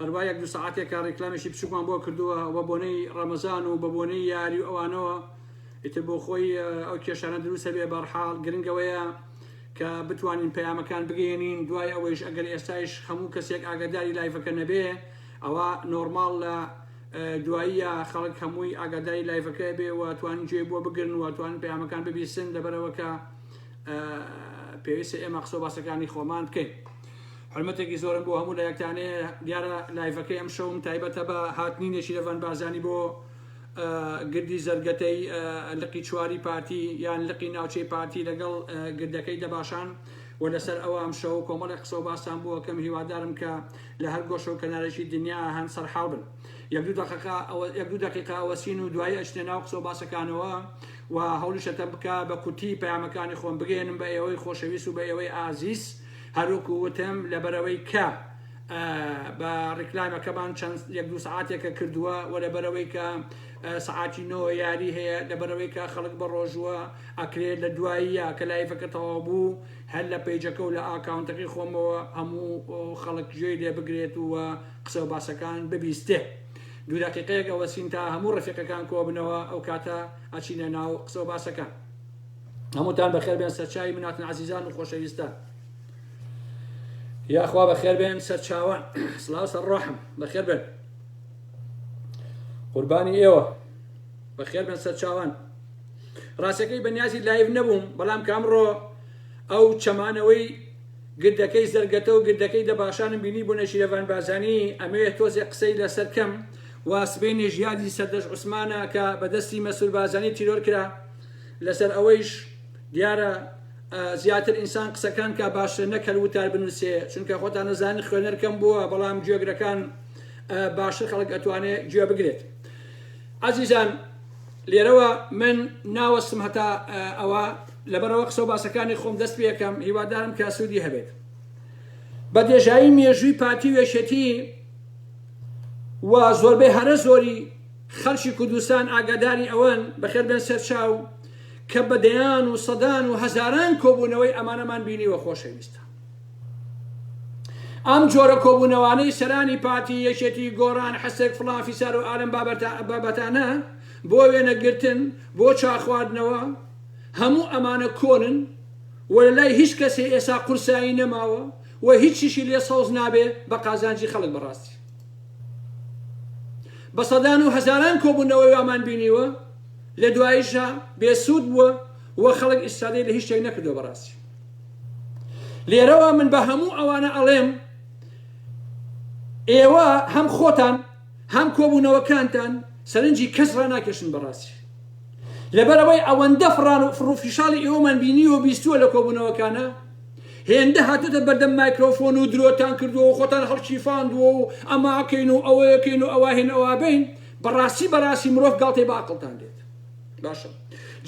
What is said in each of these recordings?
هەروا یەک دوو سەعاتێکە ڕیکلامێکی بچووکمان بۆ کردووە بە بۆنەی ڕەمەزان و بە بۆنەی یاری و ئەوانەوە ئیتر بۆ خۆی ئەو کێشانە دروستە بێ بەرحاڵ گرنگەوەیە کە بتوانین پەیامەکان بگەێنین دوای ئەوەیش ئەگەر ئێستایش هەموو کەسێک ئاگاداری لایفەکە نەبێ ئەوە نۆرماڵ لە دواییە خەڵک هەمووی ئاگاداری لایفەکە بێ و توانین جێ بۆ بگرن و توانین پەیامەکان ببیسن لەبەرەوەکە پێویستە ئێمە قسە باسەکانی خۆمان بکەین. حورمەتێکی زۆرم بۆ هەموو لایەکتان هەیە دیارە لایڤەکەی ئەم شەوم تایبەتە بە هاتنی نێچیرەڤان بارزانی بۆ گردی زەرگەتەی لقی چواری پارتی یان لقی ناوچەی پارتی لەگەڵ گردەکەی دەباشان و لەسەر ئەوە ئەم شەو کۆمەڵی قسە و باسان بووە کەم هیوادارم کە لە هەر گۆشە و کەنارێکی دنیا هەن سەرحاڵ بن یەک دوو دەقەقە یەک دوو دقیقا ئەوەسین و دوایی ئەچنە ناو قسە و باسەکانەوە و هەوڵیشەتە بکە بە کورتی پەیامەکانی خۆم بگەێنم بە ئێوەی خۆشەویست و بە ئێوەی ئازیز هەروکو وتم لەبەرئەوەی کە بە ڕیکلامەکەمان چەند یەک دوو سعاتێکە کردووە و لەبەرەوەی کە سعاتی نۆ یاری هەیە لەبەرەوەی کە خەڵک بە ڕۆژووە ئەکرێت لە دواییە کە لایفەکە تەواو بوو هەر لە پیجەکە و لە ئاکاونتەکەی خۆمەوە هەموو خەڵک گوێی لێ بگرێت و قسە و باسەکان ببیستێ دوو دقیقەیەک ئەوەسین تا هەموو ڕفیقەکان کۆبنەوە ئەو کاتە ئەچینە ناو قسە و باسەکان هەمووتان بەخێربێن سەرچاوی مناتن عزیزان و خۆشەویستان یاخوا بەخێربێن سەرچاوان سلااو سەر ڕۆحم بەخێر بێن قوربانی ئێوە بەخێر بن سەرچاوان ڕاستەکەی بەنیازی لایف نەبووم بەڵام کامڕۆ ئەو چەمانەوەی گردەکەی زەرگەتە و گردەکەی دەباشانم بینی بوو نەشیرەڤان بازانی ئەمەوێ تۆزێ قسەی لەسەر کەم واسبەی نێژیادی سەردەش عوسمانە کە بەدەستی مەسول بازانی تیرۆر کرا لەسەر ئەوەیش دیارە زیاتر ئینسان قسەکان کا باشتر نەک هەر وتار بنووسێ چونکە خۆتان نەزانن خوێنەر کەم بووە بەڵام گوێگرەکان باشتر خەڵک ئەتوانێت گوێ بگرێت عزیزان لێرەوە من ناوەستم هەتا ئەوە لەبەرەوە قسە و باسەکانی خۆم دەست پێەکەم هیوادارم کە سوودی هەبێت بە دێژایی مێژووی پارتی وێشێتی و زۆربەی هەرە زۆری خەڵکی کوردستان ئاگاداری ئەوەن، بەخێر بێن سەر چاو، کە بە دەیان و سەدان و هەزاران کۆبوونەوەی ئەمانەمان بینیوە خۆشەویستان. ئەم جۆرە کۆبوونەوانەی سەرانی پارتی، یەکێتی، گۆڕان، حسک، فڵان فیسار و ئالەم بابەتانە بۆ وێنە گرتن، بۆ چا خواردنەوە، هەموو ئەمانە کۆنن و لە لای هیچ کەسێ ئێسا قورسایی نەماوە و هیچیشی لێ سەوز نابێ بە قازانجی خەڵک بەڕاستی. بە سەدان و هەزاران کۆبوونەوەی وامان بینیوە لە دواییشا بێسوود بووە و خەڵک ئیسفادەی لە هیچ شتێک نەکردووە بەڕاستی لێرەوە من بە هەموو ئەوانە ئەڵێم ئێوە هەم خۆتان هەم کۆبوونەوەکانتان سەرنجی کەس ڕاناکێشن بەڕاستی لەبەرەوەی ئەوەندە فڕان و فڕوفیشاڵی ئێوەمان بینیوە بیستووە لە کۆبوونەوەکانە هێندە هاتۆتە بەردەم مایکرۆفۆن و درۆتان کردووە و خۆتان هەڵکیفاندووە و ئەماکەین و ئەوەیەکەین و ئەواهێن ئەوابین بەڕاستی بەڕاستی مرۆڤ گاڵتەی بە ئەقڵتان دێت باشە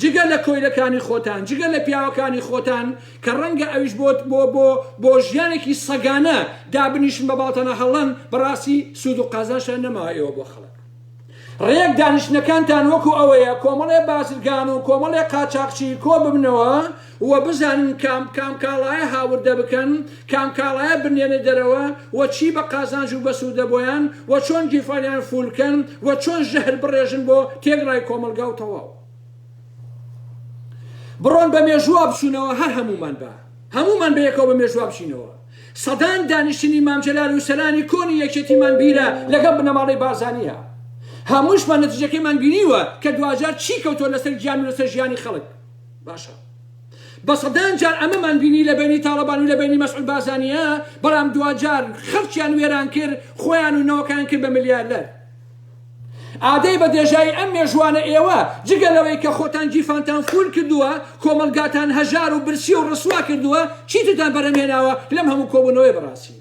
جگە لە کۆیلەکانی خۆتان جگە لە پیاوەکانی خۆتان کە ڕەنگە ئەویش بۆت بۆ بۆ بۆ ژیانێکی سەگانە دابنیشن بە باڵتانە هەڵەن بەڕاستی سوود و قازانشیان نەماوە ئێوە بۆ خەڵک ڕێک دانیشتنەکانتان وەکو ئەوەیە کۆمەڵێ بازرگان و کۆمەڵێ قاچاقچی کۆ ببنەوە و بزانن کام کام کاڵایە هاوردە بکەن کام کاڵایە بنێنە دەرەوە و چی بە قازانج و بەسوودە بۆیان و چۆن گیفانیان فول کەن و چۆن ژەهر بڕێژن بۆ تێکڕای کۆمەڵگا و تەواو بڕۆن بە مێژووا بچونەوە هەر هەموومان با هەموومان بەیەکەوە بە مێژووا بچینەوە. سەدان دانیشتنی مام جەلال و سەرانی کۆنی یەکێتیمان بیرە لەگەڵ بنەماڵەی بارزانیە هەمووشمان نەتیجەکەیمان بینیوە کە دواجار چی کەوتوە لەسەر گیان و لەسەر ژیانی خەڵک باشە بە سەدان جار ئەمەمان بینی لە بەینی تاڵەبان و لە بەینی مەسعود بارزانیە بەڵام دواجار خەڵکیان وێران کرد خۆیان و نەوەکەیان کرد بە ملیارلەر ئادەی بە دێژایی ئەم مێژووانە ئێوە جگە لەوەی کە خۆتان گیرفانتان فوول کردووە، کۆمەڵگاتان هەژار و برسی و ڕسوا کردووە، چیترتان بەرهەمهێناوە لەم هەموو کۆبوونەوەی بەڕاستی؟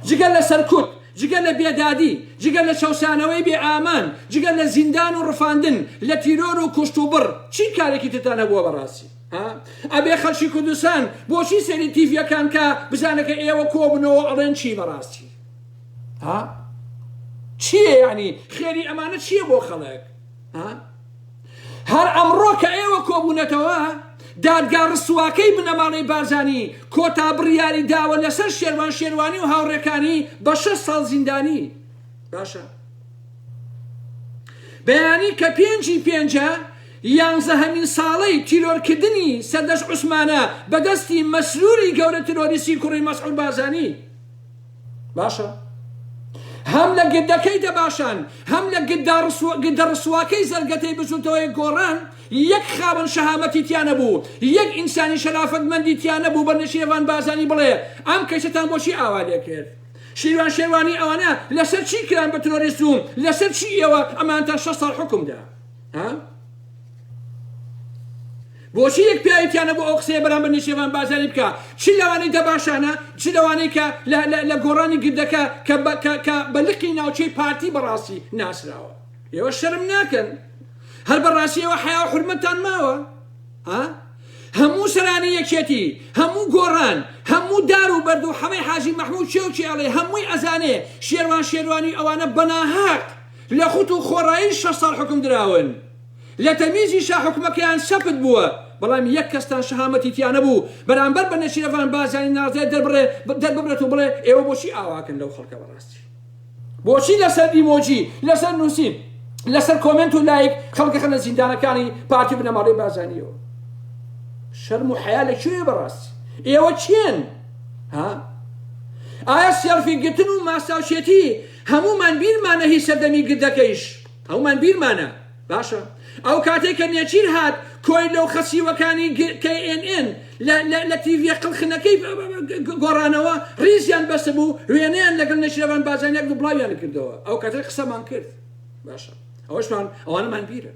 جگە لە سەرکوت، جگە لە بێدادی، جگە لە چەوسانەوەی بێ ئامان، جگە لە زیندان و ڕفاندن، لە تیرۆر و کوشت و بڕ، چی کارێکی ترتان هەبووە بەڕاستی؟ ها؟ ئەبێ خەڵکی کوردستان بۆچی سەیری تیڤیەکان کا بزانە کە ئێوە کۆبوونەوە ئەڵێن چی بەڕاستی؟ ها چیە یعنی خێری ئەمانە چیە بۆ خەڵک ها هەر ئەمڕۆ کە ئێوە کۆبوونەتەوە دادگا ڕسواکەی بنەماڵەی بارزانی کۆتا بڕیاری داوە لەسەر شێروان شێروانی و هاوڕێکانی بە شەش ساڵ زیندانی باشە بەیانی کە پێنجی پێنجە یانزەهەمین ساڵەی تیرۆرکردنی سەردەش عوسمانە بەدەستی مەسروری گەورە ترۆریسی کوڕی مەسعود بازانی باشە هەم لە گدەکەی دەباشان هەم لە گدە ڕسواکەی زەرگەتەی بچوتەوەی گۆڕان یەک خاوەن شەهامەتی تیانە بوو یەک ئینسانی شەرافەتمەندی تیانە بوو بە نشێوان بازانی بڵێ ئەم کەسەتان بۆچی ئاوا لێ کرد شیروان شێوانی ئەوانە لەسەر چی کران بە ترۆریست و لەسەر چی ئێوە ئەمانتان شە ساڵ حکومدا ها بۆچی یەک پیاوی تیا نەبوو ئەو قسەیە بەرامبەر نێچێرڤان بارزانی بکا چ لەوانەی دەباشانە چ لەوانەی کە لە لە لە گۆڕانی گردەکە کە بە کە کە بە لقی ناوچەی پارتی بەڕاستی ناسراوە ئێوە شەرم ناکەن هەر بەڕاستی ئێوە حیا و حورمەتتان ماوە ها هەموو سەرانی یەکێتی هەموو گۆڕان هەموو دار و بەرد و حەمەی حاجی مەحموود چێ و چێڵێ هەمووی ئەزانێ شێروان شێروانی ئەوانە بەناهەق لە خوت و خۆڕایی شەش ساڵ حوکم دراون لە تەمیزیشا حوکمەکەیان سەپت بووە، بەڵام یەک کەستان شەهامەتی تیا نەبوو بەرامبەر بە نێچیرەڤان بارزانی ناڕزای دەرببڕێت و بڵێ ئێوە بۆچی ئاواکەن لەو خەڵکە بەڕاستی بۆچی لەسەر ئیمۆجی لەسەر نوسین لەسەر کۆمێنت و لایک خەڵک دەخەنە زیندانەکانی پارتی و بنەماڵەی بارزانیەوە شەرم و حەیا لە کوێیە بەڕاستی ئێوە کێن ها ئایا سێڵفی گرتن و ماستاوچێتی هەموومان بیرمانە هی سەردەمی گردەکەیش ئەومان بیرمانە باشە ئەو کاتەی کە نێچیر هات کۆیلە و خەسیوەکانی knn لە لە تیڤیە قلخنەکەی گۆڕانەوە ڕیزیان بەسبوو وێنەیان لەگەڵ نێچیرەوان بازانیان و بڵاویان کردەوە ئەو کاتە قسەمان کرد باشە ئەوەشمان ئەوانەمان بیرە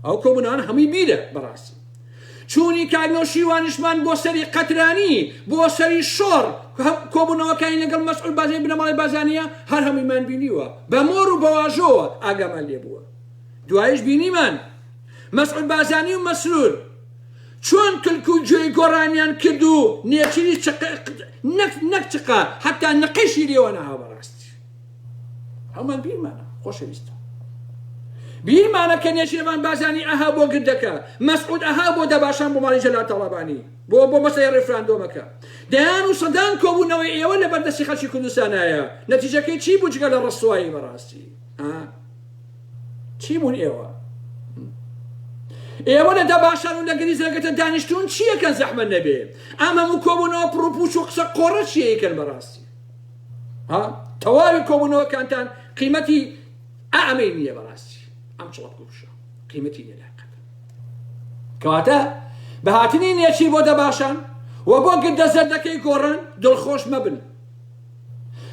ئەو کۆبوونەوان هەمووی بیرە بەڕاستی چوونیکار نەوشیروانشمان بۆ سەری قەترانی، بۆ سەری شۆڕ، کۆبوونەوەکانی لەگەڵ مەسعود بازنی بنەماڵەی بازانیە هەر هەموویمان بینیوە، بە مۆر و بە واژۆوە ئاگامان لێ بووە. دوایش بینیمان مەسعود بازانی و مەسرور چۆن کلک و گوێی گۆڕانیان کرد و نێچیری چقە، نەک چقە، حەتا نقەیشی لێوە نەهاوە. ڕاستی. هەموان بیرمانە خۆشەویستە بیرمانە کە نێشێوان بازانی ئەها بۆ گردەکە مەسعود ئەها بۆ دەباشان بۆ ماڵی جەلال تاڵابانی بۆ بۆ مەسەی ڕێفراندۆمەکە دەیان و سەدان کۆبوونەوەی ئێوە لە بەردەستی خەلکی کوردستانایە نەتیجەکەی چی بوو جگە لە ڕسوایی بەڕاستی چی بوون ئێوە ئێوە لە دەباشان و لە گریزەکەتە دانیشتون چیەکەن زەحمە نەبێ ئەمە و کۆبوونەوە پڕوپوچ و قسە قۆڕە چیەکەن بەڕاستی ها تەواوی کۆبوونەوەکانتان قیمەتی ئامەی نییە بەڕاستی ئەم چڵەپ کوشە قیمەتی نیە لای قەت کەواتە بە هاتنی نێچیر بۆ دەباشان و بۆ گردە زەردەکەی گۆڕان دڵخۆش مەبن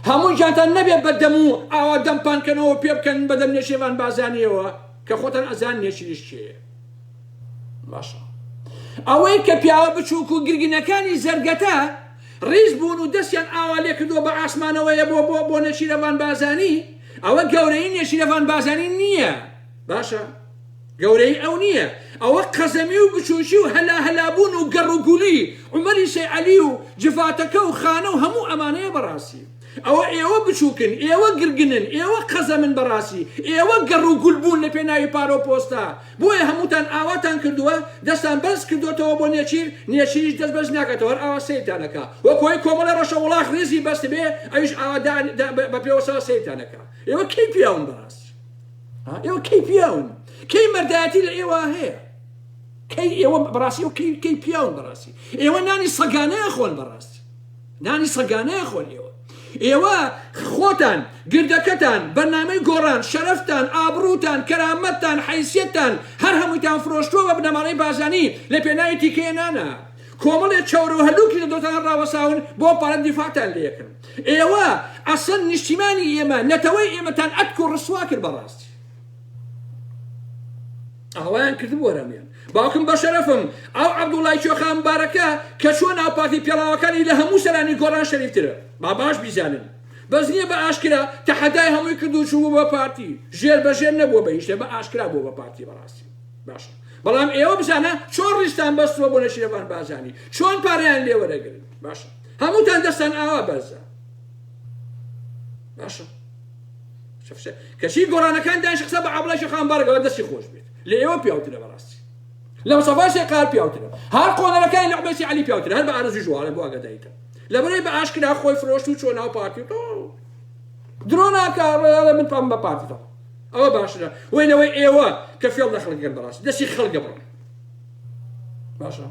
هەموو جاتان نەبێت بە دەم و ئاوا دەمپانکەنەوە پێ بکەن بە دەم نێچێوان بازانیەوە کە خۆتان ئەزان نێچیریش چێە باشە ئەوەی کە پیاوە بچووک و گرگینەکانی زەرگەتە ڕیز بوون و دەستیان ئاوا لێکردووە بە ئاسمانەوەیە بۆ بۆ بۆ نێچیرەڤان بارزانی ئەوە گەورەیی نێچیرەڤان بارزانی نییە باشە گەورەیی ئەو نییە ئەوە قەزەمی و بچووکی و هەلا هەلا بوون و گەڕ و گولی عومەری سەی عەلی و جڤاتەکە و خانە و هەموو ئەمانەیە بەڕاستی ئەوە ئێوە بچوکن ئێوە گرگنن ئێوە قەزەمن بەڕاستی ئێوە گەڕ و گول بوون لە پێناوی پارە و پۆستە بۆیە هەمووتان ئاواتان کردووە دەستان بەرز کردۆتەوە بۆ نێچیر نێچیریش دەست بەرز ناکاتەوە هەر ئاوا سەیرتان ئەکا وەک هۆی کۆمەڵی ڕەشە وڵاخ ڕیزی بەستبێ ئەویش ئاوا دان دا بە پێوەسەوە سەیرتان ئەکا ئێوە کەی پیاون بەڕاستی ها ئێوە کەی پیاون کەی مەردایەتی لە ئێوە هەیە کەی ئێوە بەڕاستی ئێوە کەی کەی پیاون بەڕاستی ئێوە نانی سەگانە ئەخۆن بەڕاستی نانی سەگانەیە خۆ لێوە ئێوە خۆتان گردەکەتان بەرنامەی گۆڕان شەرەفتان ئابڕوتان کەرامەتتان حەیسیەتتان هەر هەموویتان فرۆشتووە بە بنەماڵەی بازانی لە پێناوی تیکەیە نانا کۆمەڵێ چەور و هەلوکی لە دڵتان ڕاوەساون بۆ پارە دیفاعتان لێکن ئێوە ئەسڵەن نیشتیمانی ئێمە نەتەوەی ئێمەتان ئەتک و ڕسوا کرد بەڕاستی ئاوایان کردبوو ئەرامیان باوکم بەشەرەفم ئەو عەبدوڵای کێۆخا مبارەکە کە چووە ناو پارتی پێڵاوەکانی لە هەموو سەرانی گۆڕان شەریفترە با باش بیزانن بەس نیە بە ئاشکرا تەحەدای هەمووی کرد و چووبوو بە پارتی ژێر بە ژێر نەبووە بە هیچ شتێ بە ئاشکرا بووە بە پارتی بەڕاستی باشە بەڵام ئێوە بزانە چۆن ڕیزتان بەستووە بۆ نەشیرەڤان بازانی چۆن پارەیان لێ وەرەگرن باشە هەمووتان دەستان ئاوا بەرزە باشە کەچی گۆرانەکان دانیش قسە بە عەبڵای شەخان بارگەوە دەستی خۆش بێت لە ئێوە پیاوترە بەڕاستی لە مصطفی شێقار پیاوترە هەر قۆنەرەکانی لە عبێسی علی پیاوترە هەر بە ئارزوی ژوارە بۆ ئاگاداییتە لە بەرەی بە ئاشکرا خۆی فرۆشت و چۆ ناو پارتی و درۆ ناکە ڕێڵە من پام بە پارتی دەڵ ئەوە باشرە وی لەوەی ئێوە کە فێڵ لە خەڵکگەن بەڕاست دەستی خەڵگە بڕ باشە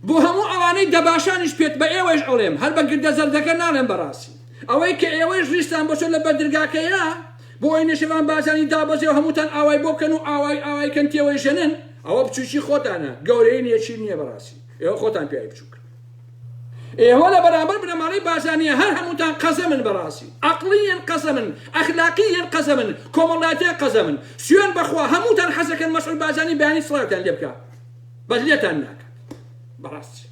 بۆ هەموو ئەوانەی دەباشانیش پێت بە ئێوەش ئەڵێم هەر بە گردە زەردەکە ناڵێم بەڕاستی ئەوەی کە ئێوەش ریستان بەسۆ لە بەردرگاکەیە بۆی نەشیروان بارزانی دابەزێ و هەمووتان ئاوای بۆ بکەن و ئاوای ئاوای کەن تێوەیژەنن ئەوە بچوکی خۆتانە گەورەی نیە چی نیە بەڕاستی ئێوە خۆتان پیاوی بچوکن ئێوە لە بەرامبەر بنەماڵەی بارزانیە هەر هەمووتان قەزەمن بەڕاستی ئەقڵیەن قەزەمن ئەخلاقیەن قەزەمن کۆمەڵایەتیان قەزەمن سوێن بەخوا هەمووتان حەزەکەن مەسعود بارزانی بەیانی سڵاوتان لێ بکا بەس لێتان ناکات بەڕاستی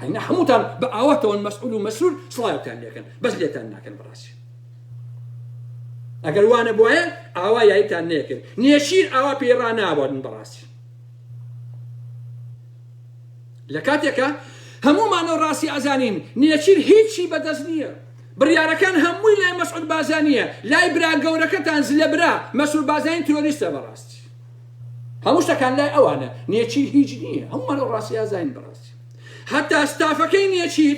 هەینە هەمووتان بە ئاواتەوەن مەسعود و مەسرور سڵاوتان لێکەن بەس لێتان ناکەن بەڕاستی ئەگەر وانە بواە ئاوا یایتان نەکرد نێشیر ئاوا پێی ڕناوەن بەڕاستی لە کاتێکە هەمومانە ڕاستی ئازانین نێچیر هیچی بەدەست نییە بڕیارەکان هەمووی لای مەسعود بازانیە لای برا گەورەکەتان زلە برا مەسول بازانین تۆریستە بەڕاستی هەموو شتەکان لای ئەوانە نێچیر هیچ نییە هەمومان ڕاستی ئازانین بەڕاستی هەتا ستافەکەی نێچیر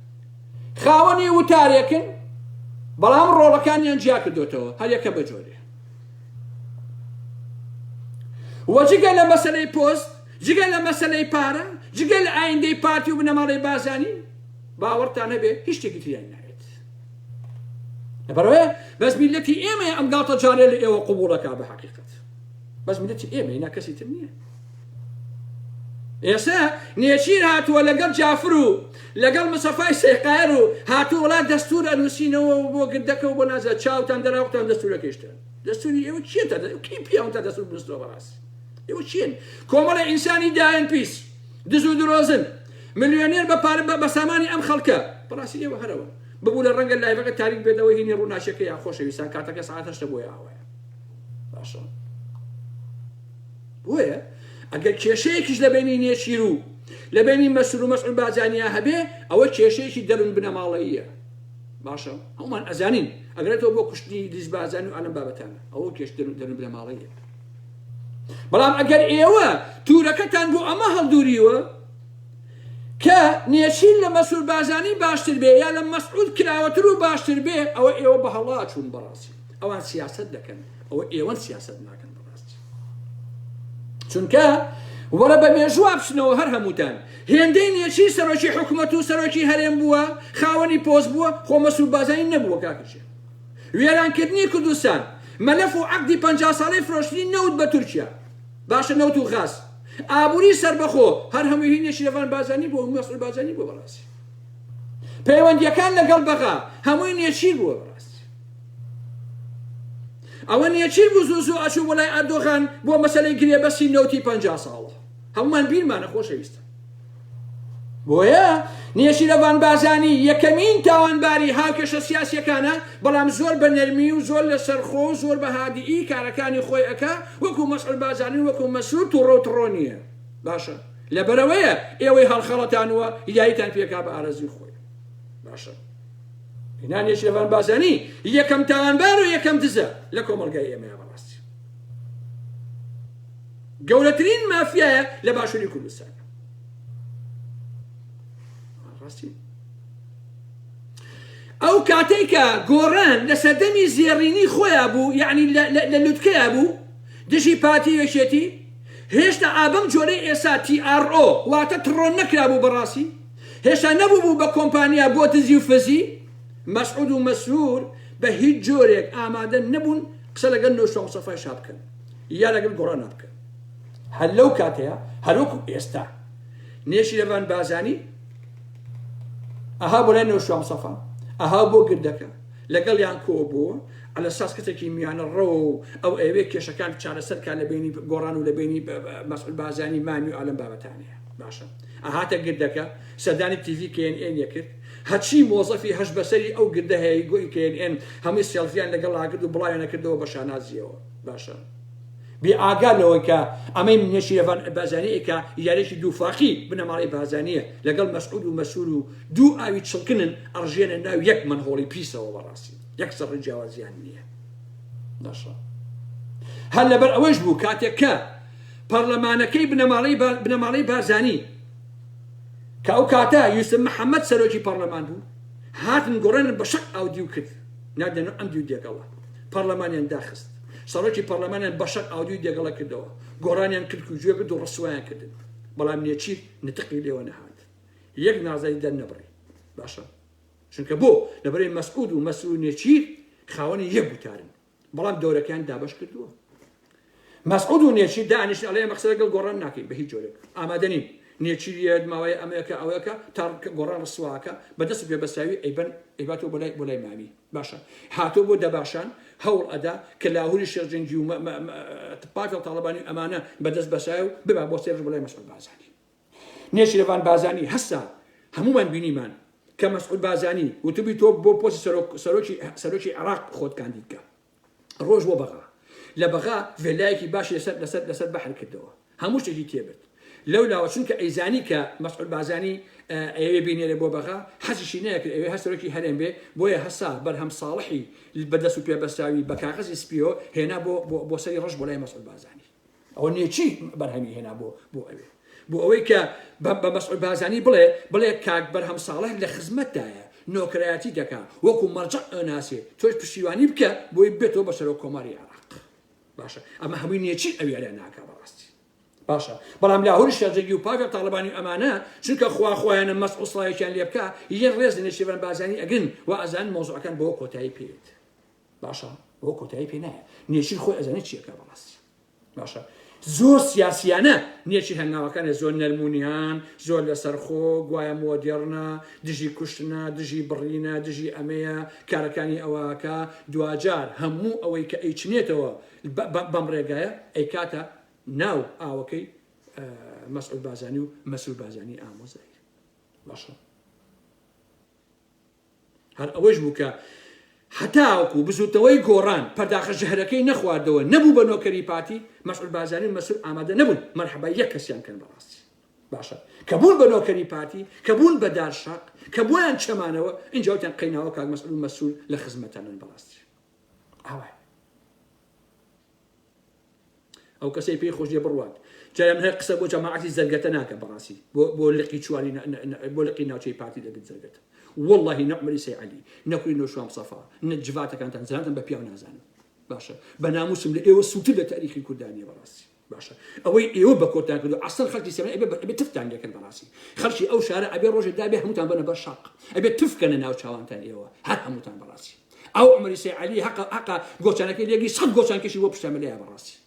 خاوەنی وتارێکن بەڵام ڕۆڵەکانیان جیا کردوتەوە هەریەکە بە جۆرێ وەجگە لە مەسلەی پۆست جگە لە مەسلەی پارە جگە لە ئایندەی پارتی و بنەماڵەی بازانی باوەڕتان هەبێ هیچ شتێکی تریان ناوێت لەبەرەوەی بەس میلەتی ئێمە ئەم گاڵتە جارێ لە ئێوە قوبوڵەکە بە حقیقت بەس میلەتی ئێمە نا کەسی تر نییە ئێستا نێچیر هاتووە لەگەڵ جافر و لەگەڵ مسەفای سێقایەر و هاتووە وڵا دەستور ئەنووسینەوە و بۆ گردەکە و بۆ نازە چاوتان دەراوقتان دەستورەکەیشتان دەستوری ئێوە کێ تا کەی پیاون تا دەستور بنووسنەوە بەڕاستی ئێوە چێن کۆمەڵە ئینسانی دایەن پیس دزو درۆزن ملیۆنێر بە پارە بە بەسامانی ئەم خەڵکە بەڕاستی ئێوە هەرەوە ببوو لە ڕەنگە لایڤەکە تاریک بێتەوە هینی ڕووناچەکەیان خۆشەویستان کاتەکە ساعت هەشتە بۆیە ئاوایە باشە بۆیە ئەگەر کێشەیەکیش لە بەینی نێچیر و لە بەینی مەسرور و مەسعود بارزانیا هەبێ ئەوە کێشەیەکی دەرون بنەماڵەییە باشە هەمومان ئەزانین ئەگرێتەوە بۆ کوشتنی لیز بارزانی و ئەلەم بابەتانە ئەوە کێش دەرون دەرون بنەماڵەییە بەڵام ئەگەر ئێوە تورەکەتان بۆ ئەمە هەڵدوریوە کە نێچیر لە مەسرور بارزانی باشتر بێ یا لە مەسعود کراوەتر و باشتر بێ ئەوە ئێوە بە هەڵاچون بەڕاستی ئەوان سیاست دەکەن ئەوە ئێوەن سیاست ناکەن چونکە وەرە بە مێژوو بچنەوە هەر هەمووتان هێندەی نێچی سەرۆکی حکوومەت و سەرۆکی هەرێم بووە خاوەنی پۆست بووە خۆ مەسوود بازانی نەبووە کاکشێ وێرانکردنی کوردستان مەلەف و عەقدی پ ساڵەی فرۆشتنی نەوت بە تورکیا باشە نەوت و غاز ئابووری سربەخۆ هەر هەموو هینێ شرێڤان بازانی بۆ مەسعود بازانی بۆ بەڕاستی پەیوەندیەکان لەگەڵ بەغا هەمووی نێچیر بووە بەڕاستی ئەوە نیە چی بوو زوو زوو ئەچوو بۆ لای ئەردۆغان بۆ مەسەلەی گرێبەستی نەوتی پەنجا ساڵە هەموومان بیرمانە خۆشەویستە بۆیە نێچیرەڤان بازانی یەکەمین تاوانباری هاوکێشە سیاسیەکانە بەڵام زۆر بە نەرمی و زۆر لەسەر خۆ و زۆر بە هادیئی کارەکانی خۆی ئەکا وەکو مەسعود بازانی وەکو مەسرور توڕە و تڕۆ نیە باشە لەبەرەوەیە ئێوەی هەڵخەڵەتانوە یایتان پێکا بە ئارەزوی خۆی باشە هێنانیش لەبان بازانی یەکەم تاوانبار و یەکەم دزە لە کۆمەڵگای ئێمەیە بەڕاستی گەورەترین مافیایە لە باشووری کوردستان ڕاستی ئەو کاتێکە گۆڕان لە سەردەمی زێڕینی خۆیان بوو یعنی لە لوتکەیە بوو دژی پارتی یەکێتی هێشتا ئابم جۆرەی ئێسا TRO واتە تڕۆن نەکرابوو بەڕاستی هێشتا نەبووبوو بە کۆمپانیا بۆ دزی و فزی، مەسعود و مەسرور بە هیچ جۆرێک ئامادە نەبوون قسە لەگەل نۆشتە مستەفای شا بکەن یا لەگەل گۆڕان بکەن. هەر لەو کاتەیا هەر وەکو ئێستا نێچیرەڤان بازانی ئەها بۆ لای نۆشتە مستەفا ئەها بۆ گردەکە لەگەڵیان کۆبووە على ساس کەسێکی میانە ڕەوە و ئەو ئەیەوێ کێشەکان چارەسەر کا لە بەینی گۆڕان و لە بەینی مەسعود بازانی مامی و ئالەم بابەتانەیە باشە. ئەهاتە گردەکە سەردانی تیڤی کێن ئێنی کرد هەرچی مۆزەفی هەشت بەسەری ئەو گردە هەیە ی گۆی کێن ئێن هەمووی سێڵفیان لەگەڵا کرد و بڵاویانە کردەوە بە شانازیەوە باشە بێ ئاگا لەوەی کە ئەمەی نێچیرەڤان بازانی ی کە یارێکی دوو فاقی بنەماڵەی بازانیە لەگەڵ مەسعود و مەسرور و دوو ئاوی چڵکنن ئەڕژێنە ناو یەک مەنهۆڵی پیسەوە بەڕاستی یەک سەڕی جیاوازیان نیە باشە هەر لەبەر ئەوەیش بوو کاتێک کە پەڕلەمانەکەی بنەماڵەی بارزانی کە ئەو کاتە یوسف محەمەد سەرۆکی پەڕلەمان بوو هاتن گۆڕێنن بە شەق ئاو دیو کرد نادێنە ئەم دیو دێگەڵە پەڕلەمانیان داخست سەرۆکی پەڕلەمانیان بە شەق ئاو دیو دێگەڵە کردەوە گۆڕانیان کرد و گوێ کرد و ڕسوایان کردن بەڵام نێچیر نتقی لێوە نەهات یەک نازای دەر نەبڕی باشە چونکە بۆ لەبەرەی مەسعود و مەسرور نێچیر خاوەنی یەک گوتارن بەڵام دەورەکەیان دابش کردووە مەسعود و نێچیر دانیشن ئەڵێ ئەمە قسە لەگەڵ گۆڕان ناکەین بە هیچ جۆرێک ئامادەنین نێچیریت ماوەی ئەمەیەکە ئەوەکە تاڕکە گۆڕان ڕسواکە بەدەست پێ بەساوی ئەیبەن ئەیباتۆ بۆ لای بۆ لای مامی باشە هاتۆ بۆ دەباشان هەوڵ ئەدا کە لاهوری شێرجنگی و پارتی و تاڵبانی ئەمانە بەدەست بەسای و ببا بۆ سێرش بڵێ مەسعود بازانی نێچیرەڤان بازانی هەستا، هەموومان بینیمان کە مەسعود بازانی وتبوی تۆ بۆ پۆستی سەرۆک سەرۆکی سەرۆکی عێراق خۆت کاندید کە. ڕۆشت بۆ بەغا. لە بەغا ڤێلایەکی باشی لەسەر لەسەر لەسەر بەحر کردەوە. هەموو شتێکی تێبرد. لەو لاوە چونکە ئەیزانی کە مەسعود بازانی ئەیەوێ بینێرێ بۆ بەغا، حەزیشی نەیەکرد ئەوێ هەر سەرۆکی هەرێم بێ، بۆیە هەسا بەرهەم ساڵحی بە دەست و پێ بەستراوی بە کاغەزی سپییەوە هێنا بۆ بۆ بۆ سەری ڕەش بۆ لای مەسعود بازانی. ئەوە نیە چی بەرهەمی هێنا بۆ بۆ ئەوێ بۆ ئەوەی کە بە بە مەسعود بازانی بڵێ بڵێ کاک بەرهەم ساڵح لە خزمەتدایە نۆکرایەتی دەکا وەکو مەرجە ئەناسێ تۆش پشتیوانی بکە بۆی بێتەوە بە سەرۆک کۆماری عێراق باشە ئەمە هەمووی نیەچی ئەوێ لە ناکە بەڕاستی باشە بەڵام لاهوری شێرجەگی و پاگە تاالبانی ئەمانە چونکە خوا خۆیانە مەس وسڵایەکیان لێ بکە یەن ڕێز نێشیبەن بازانی ئەگرن و ئەزان مۆزعەکان بۆ کۆتایی پێێت باشە بۆ کۆتایی پێ نایە نێچیر خۆی ئەزانێت چیەکە بەڕاستی باشە زۆر سیاسیانە نێچی هەنگاوەکانی زۆر نەرمونیان زۆر لەسەرخۆ گوایە مۆدێڕنا دژی کوشتنا دژی بڕینە دژی ئەمەیە کارەکانی ئەوەکە دواجار هەموو ئەوەی کە ئەیچنێتەوە بەم ڕێگایە ئەیکاتە ناو ئاوەکەی مەسعود بازانی و مەسرور بازانی ئامۆزای باشە هەر ئەوەش بوو کە هەتاوەکو بزووتنەوەی گۆڕان پەرداخە ژەهرەکەی نەخواردەوە نەبوو بە نۆکەری پارتی، مەسعود بارزانی و مەسرور ئامادە نەبوون مەرحەبای یەک کەسیان کەن بەڕاستی. باشە کە بوون بە نۆکەری پارتی، کە بوون بە دار شاق، کە بوویان چەمانەوە، ئینجا وتیان قەیناوە کاک مەسعود و مەسرور لە خزمەتانن بەڕاستی ئاوایە. ئەو کەسەی پێی خۆش دێ بڕوات جارێ من هەر قسە بۆ جەماعەتی زەرگەتە ناکەم بەڕاستی بۆ لقی چواری بۆ لقی ناوچەی پارتی دەگرت زەرگەتە واللهی نەعمەری سەیعەلی نەکوی نۆشوام سەفا نە جڤاتەکانتان زانتم بە پیاو نازانم باشە بە ناموسم لە ئێوە سووتر لە تاریخی کوردانیە بەڕاستی باشە ئەوەی ئێوە بە کۆتان کردو عسەر خەڵکی سێمە ئەبێ بە تفتان لێکرد بەڕاستی خەڵکی ئەو شارە ئەبێ ڕۆژێک دابێ هەمووتان بەنە بەر شەق ئەبێ تفکەنە ناو چاوانتان ئێوە هەر هەمووتان بەڕاستی ئەو عمری سەی عەلی هەقە هەقە گۆچانەکەی لێگری سەد گۆچان کەشی بۆ پشتە ملەیە بەڕاستی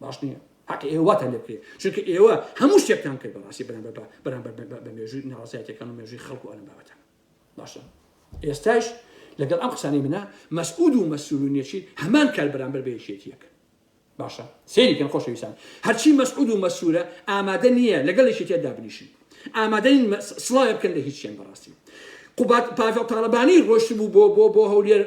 باش نییە حق ئێوە واتە لێ بکرێت چونکە ئێوە هەموو شتێکتان کرد بەڕاستی بەرامبەر بە بەرامبەر بە مێژووی ناڕازایەتەکان و مێژووی خەڵک و ئەلم بابەتان باشە ئێستاش لەگەڵ ئەم قسانی منە مەسعود و مەسرور و نێچیر هەمان کار بەرامبەر بە یەکێتیەکە باشە سەیری کەن خۆشەویستان هەرچی مەسعود و مەسرورە ئامادە نیە لەگەڵ یەکێتیە دابنیشن ئامادە نین مە سڵاوێ بکەن لە هیچیان بەڕاستی قوباد پاڤێڵ تاڵەبانی ڕۆشتبوو بۆ بۆ بۆ هەولێر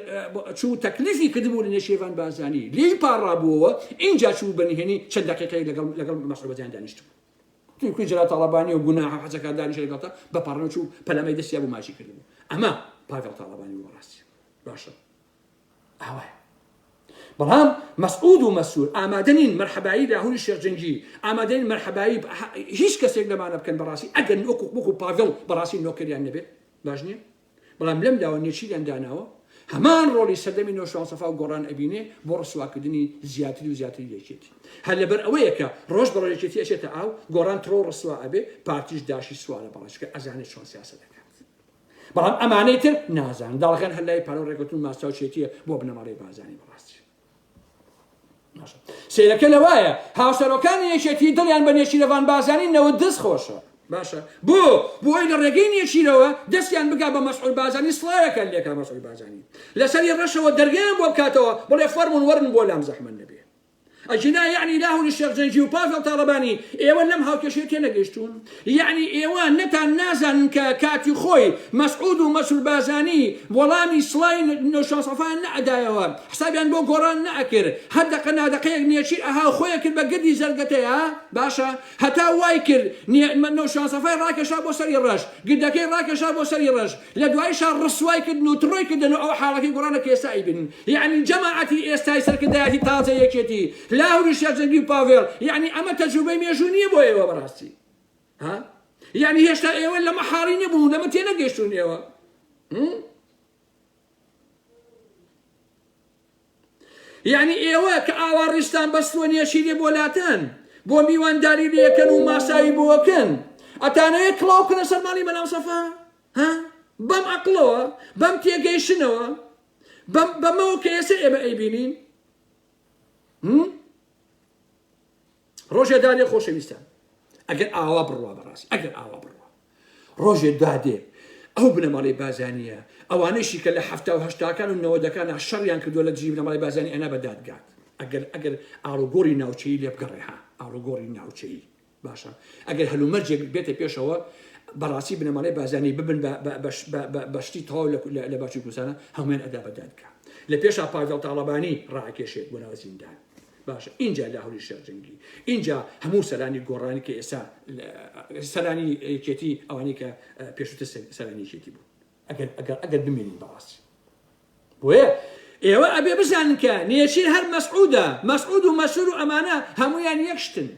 چوو تەکلیفی کردبوو لە نێشێڤان بازانی لێی پاڕابووەوە ئینجا چوو بە نهێنی چەند دەقیقەی لەگەڵ لەگەڵ مەسعود بەجان دانیشتبوو تونکوی جەلال تاڵەبانی و گوناحە حەجەکە دانیشە لەگەڵتا بە پاڕنەوە چوو پەلامەی دەستیا بوو ماچی کردبوو ئەمە پاڤێڵ تاڵەبانی وەڕاستی باشە ئاوایە بەڵام مەسعود و مەسرور ئامادە نین مەرحەبایی لاهوری شێخ جەنگی ئامادە نین مەرحەبایی هیچ کەسێک لەمانە بکەن بەڕاستی ئەگەر وەکو وەکو پاڤێڵ بەڕاستی نۆکەریان نەبێت باش نییە بەڵام لەم لاوە نێچیریان داناوە هەمان ڕۆڵی سەردەمی نۆشوان سەفا و گۆڕان ئەبینێ بۆ ڕسواکردنی زیاتری و زیاتری یەکێتی هەر لەبەر ئەوەیە کە ڕۆژ بە ڕێکێتی ئەچێتە ئاو گۆڕان تڕۆ ڕسوا ئەبێ پارتیش داشی سوالە بەڕێچکە ئەزانێت چۆن سیاسەتەکە بەڵام ئەمانەی تر نازان داڵغێن هەر لای پارەو ڕێکوتن ماستاو شێتیە بۆ بنەماڵەی بازانی بەڕاستی سیرەکە لە وایە هاوسەرۆکانی یەکێتی دڵیان بە نێچیرەوان بازانی نەوت دەست خۆشە باشە بۆ بۆی لە ڕێگەی نێچیرەوە دەستیان بگا بە مەسعول بازانی سڵاوەکەن لێکا مەسعول بازانی لەسەری ڕەشەوە دەرگەیان بۆ بکاتەوە بڵێ فەرمون وەرن بۆ لام زەحمن نەبێ ئەگینا یەعنی لاهور و شێخ جەنگی و پاڤێڵ تاڵەبانی ئێوە لەم هاوکێشەیە تێنەگەیشتوون؟ یەعنی ئێوە نەتان نازانن کە کاتی خۆی مەسعود و مەسرور بارزانی وەڵامی سڵای نۆشیروان سەفایان نەئەدایەوە، حسابیان بۆ گۆڕان نەئەکرد، هەر دەقە نادەقەیەک نێچیر ئەها و خۆی ئەکرد بە گردی زەردەتەیا؟ باشە هەتا وای کرد نێ نۆشیروان سەفای ڕاکێشا بۆ سەری ڕەش، گردەکەی ڕاکێشا بۆ سەری ڕەش، لە دوایشا ڕسوای کردن و تڕۆی کردن و ئەو حاڵەکەی گۆڕانە کە ئێستا ئەیبینن یەعنی جەماعەتی ئێستای سەرکردایەتی تازەی یەکێتی لاهوری شێخ جەنگی و پاڤێڵ یەعنی ئەمە تەجروبەی مێژوو نیە بۆ ئێوە بەڕاستی ها یەعنی هێشتا ئێوە لەمە حاڵی نەبوون لەمە تێ نەگەشتون ئێوە یانی ئێوە کە ئاوا ڕیزتان بەستووە نێچیری بۆ لاتەن بۆ میوانداری لێکەن و ماساوی بۆکەن ئەتانەوێ کڵاو بکەنە سەر ماڵی مەلام سەفا ها بەم عەقڵەوە بەم تێگەیشتنەوە بەمەوە کە ئێستا ئێمە ئەیبینین ڕۆژێ دادێ خۆشەویستان ئەگەر ئاوا بڕوا بەڕاست ئەگەر ئاوا بڕوا ڕۆژێ دادێ ئەو بنەماڵی بازانیە ئەوانەیشی کە لە هەفتا و هەشتاکان و نەوەدەکان شەڕیان کردو لە دژی بنەماڵی بازانی ئەنا بەدادگات ئەگەر ئەگەر ئاڵوگۆری ناوچەی لێ بگەڕێ ها ئاڵوگۆری ناوچەی باشە ئەگەر هەلومەرجێک بێتە پێشەوە بەڕاستی بنەماڵی بازانی ببن بەشتی تەواو لە باشی کوردستانە هەموان ئەدا بەدادگا لە پێشا پاگەڵ تاڵەبانی ڕاکێشێت بۆ ناو زیندان باشە ئینجا لاهوری شێخ جەنگی ئینجا هەموو سەرانی گۆڕانی کە ئێستا سەرانی یەکێتی ئەوانی کە پێشوتە سەرانی یەکێتی بوو ئەگەر ئەگەر ئەگەر بمێنین بەڕاستی بۆیە ئێوە ئەبێ بزانن کە نێچیر هەر مەسعودە مەسعود و مەسور و ئەمانە هەمویان یەکشتن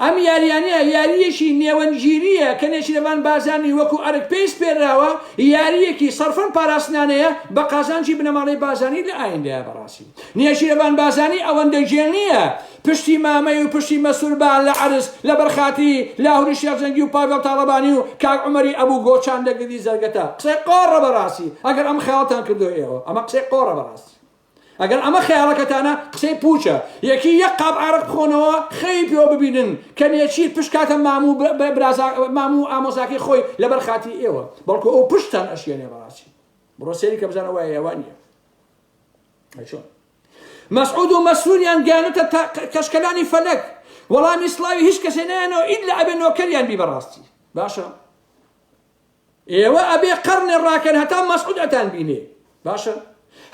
ئەم یاریانە یارییەکی نێوەندگیرییە کە نێچیرەڤان بارزانی وەکو ئەرک پێی سپێرراوە، یارییەکی سەرفەن پاراستنانەیە بە قازانجی بنەماڵەی بارزانی لە ئایندەیا بەڕاستی نێچیرەڤان بارزانی ئەوەندە گێل نییە پشتی مامەی و پشتی مەسرور بان لە عەرز لە بەر خاتری لاهوری شێخ جەنگی و پاڤێڵ تاڵەبانی و کاک عومەری ئەبو گۆچان دەگردی زەرگەتە قسەی قۆڕە بەڕاستی ئەگەر ئەم خەیاڵتان کردوە ئێوە ئەمە قسەی قۆڕە بەڕاستی. ئەگەر ئەمە خەیاڵەکەتانە قسەی پوچە یەکی یەک قاپ عارەق بخۆنەوە خەیی پێوە ببینن کە نێچیر پشت کاتە مام و برازا مام و ئامۆزاکەی خۆی لەبەر خاتی ئێوە بەڵکو ئەو پشتان ئەشێنێ بەڕاستی بڕۆ سێری کە بزانە وایە یاوان نیە چۆن مەسعود و مەسووریان گیانەتە کەشکەلانی فەلەک وەڵامی سڵاوی هیچ کەسێ نایەنەوە ئید لە ئەبێ نۆکەریان بی بەڕاستی باشە ئێوە ئەبێ قەڕنێ ڕاکەن هەتا مەسعود ئەتان بینێ باشە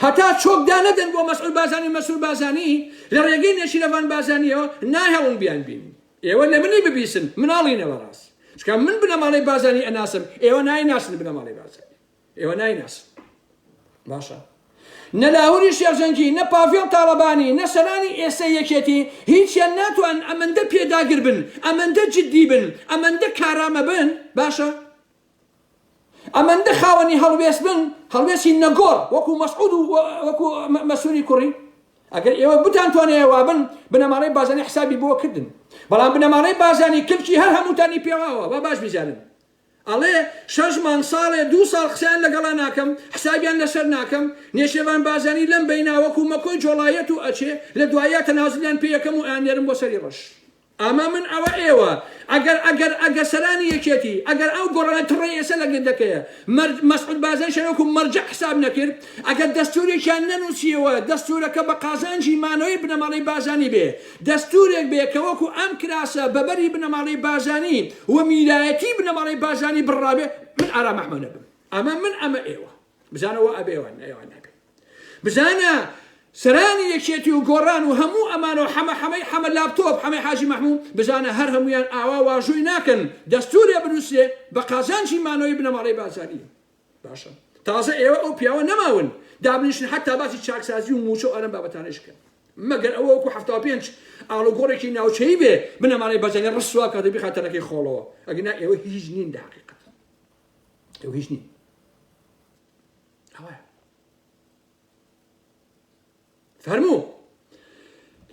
هەتا چۆک دانەدەن بۆ مەسعود بازانی مەسرور بازانی لە ڕێگەی نێچیرەڤان بازانیەوە ناهێڵن بیان بینن ئێوە لە منی ببیسن مناڵینە بەڕاست چکە من بنەماڵەی بازانی ئەناسم ئێوە نایناسن بنەماڵەی بازانی ئێوە نایناسن باشە نە لاهوری شێرزەنگی، نە پاڤێڵ تاڵەبانی، نە سەرانی ئێستەی یەکێتی، هیچیان ناتوانن ئەمەندە پێداگر بن، ئەمەندە جدی بن، ئەمەندە کارامە بن، باشە ئەمەندە خاوەنی هەڵوێست بن، هەڵوێستی نەگۆڕ، وەکو مەسعود و وەکو مەسروری کوڕی. ئەگەر ئێوە بتانتوانێ وا بن، بنەماڵەی بازانی حسابی بۆ کردن. بەڵام بنەماڵەی بازانی کلکی هەر هەمووتانی پێواوە، با باش بیزانن. ئەڵێ شەش مانگ ساڵێ دوو ساڵ قسەیان لەگەڵا ناکەم حسابیان لەسەر ناکەم نێچێرڤان بارزانی لەم بەینا وەکو مەکۆی جۆڵایەت و ئەچێ لە دواییا تەنازولیان پێ یەکەم و ئەیاننێرم بۆ سەری ڕەش ئەمە من ئەوە ئێوە ئەگەر ئەگەر ئەگەر سەرانی یەکێتی ئەگەر ئەو گۆڕانە تڕەی ئێسە لە گردەکەیە مەرج مەسعود بارزانی شان وەکو مەرجەع حساب نەکرد ئەگەر دەستورێکیان نەنوسیەوە دەستورەکە بە قازانجی مانەوەی بنەماڵەی بارزانی بێ دەستوورێک بێ کە وەکوو ئەم کراسە بە بەری بنەماڵەی بارزانی و میرایەتی بنەماڵەی بارزانی بڕرابێ من ئارام ئەحمەد ئەبم ئەمە من ئەمە ئێوە بزانە وا ئەبێ ئەوان ئەوان نابێ بزانە سەرانی یەکێتی و گۆڕان و هەموو ئەمانە و حەمە حەمەی حەمە لاپتۆپ حەمەی حاجی مەحموو بزانە هەر هەمویان ئاوا واژووی ناکەن دەستوورێ بنووسرێ بە قازانجی مانەوەی بنەماڵەی بارزانی باشە تازە ئێوە ئەو پیاوە نەماون دابنیشن حتا باسی چاکسازی و موچە و ئەرم بابەتانش کەن مەگەر ئەوە وەکو هەفتا و پێنج ئاڵوگۆڕێکی ناوچەی بێ بنەمانەی بەجەنگە ڕسوا کە دەبی خاتەرەکەی خۆڵەوە ئەگنا ئێوە هیچ نین لە حقیقەت ئێوە هیچ نین ئەوە فەرموو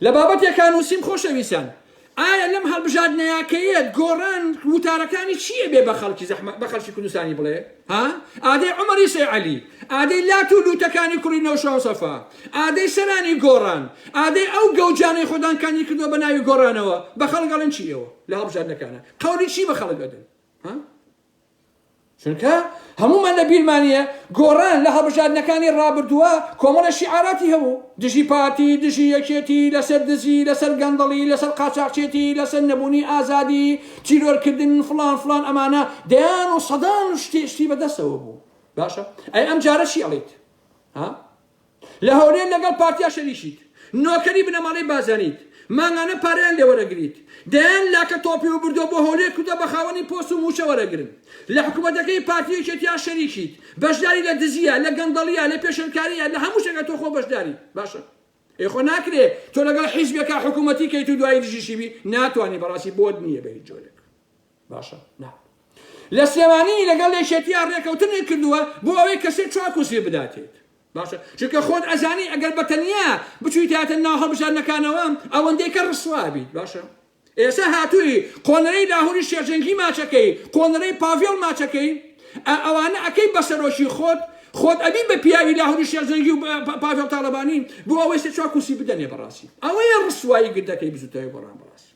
لە بابەتێکا نووسیم خۆشەویستان ئایا لەم هەڵبژاردنەیاکەیە گۆڕان وتارەکانی چییە بێ بە خەڵکی زەحمە بە خەڵکی کوردستانی بڵێ ها ئادەی عمەری سێعەلی ئادەی لات و لوتەکانی کوڕی نەوشاو سەفا ئادەی سەرانی گۆڕان ئادەی ئەو گەوجانەی خۆدان کانی کردو بە ناوی گۆڕانەوە بە خەڵگەڵن چیەوە لە هەڵبژاردنەکانە قەولی چی بە خەڵک ئەدن ها چونکە هەموومان لە بیرمانە گۆڕان لە هەڵبژاردنەکانی ڕابردووە کۆمەڵێ شیعاراتی هەبوو دژی پارتی، دژی یەکێتی، لەسەر دزی، لەسەر گەندەڵی، لەسەر قاچاخچێتی، لەسەر نەبوونی ئازادی، تیرۆرکردن، فڵان فڵان ئەمانە دەیان و سەدان شتی شتی بەدەستەوە بوو باشە ئەی ئەمجارە چی ئەڵێیت ها؟ لە هەولێر لەگەڵ پارتیا شەریشیت نۆکەری بنەماڵەی بازانیت مانگانە پارەیان لێ وەرەگریت دەیان لاکە تۆپی وبردۆ بۆ هەولێر کردوە بە خاوەنی پۆست و موچە وەرەگرن لە حکومەتەکەی پارتی یەکێتیا شەریکیت بەشداری لە دزیە لە گەندەڵیە لە پێشێلکاریە لە هەموو شتێکا تۆ خۆ بەشداری باشە ئێ خۆ ناکرێ تۆ لەگەڵ حیزبێکا حکومەتی کەیت و دوایی دژیشی بی ناتوانی بەڕاستی بۆت نیە بە هیچ جۆرێک باشە نا لە سلێمانی لەگەڵ یەکێتیا ڕێکەوتنێک کردووە بۆ ئەوەی کە سێ چوار کورسی بداتێت باشە چونکە خۆت ئەزانی ئەگەر بەتەنیا بچویتاتە ناو هەڵبژاردنەکانەوە ئەوەندەی کە ڕسوا بیت باشە ئێستا هاتووی قۆنەرەی لاهوری شێرجەنگی ماچەکەی قۆنەرەی پاڤێڵ ماچەکەی ئەوانە ئەکەی بە سەرۆکی خۆت خۆت ئەبی بە پیاوی لاهوری شێرجەنگی و پاڤێڵ تاڵەبانی بۆ ئەوەی سێ چوار کورسی بدەنێ بەڕاستی ئەوەیە ڕسوایی گردەکەی بزوتەوەی گۆڕان بەڕاستی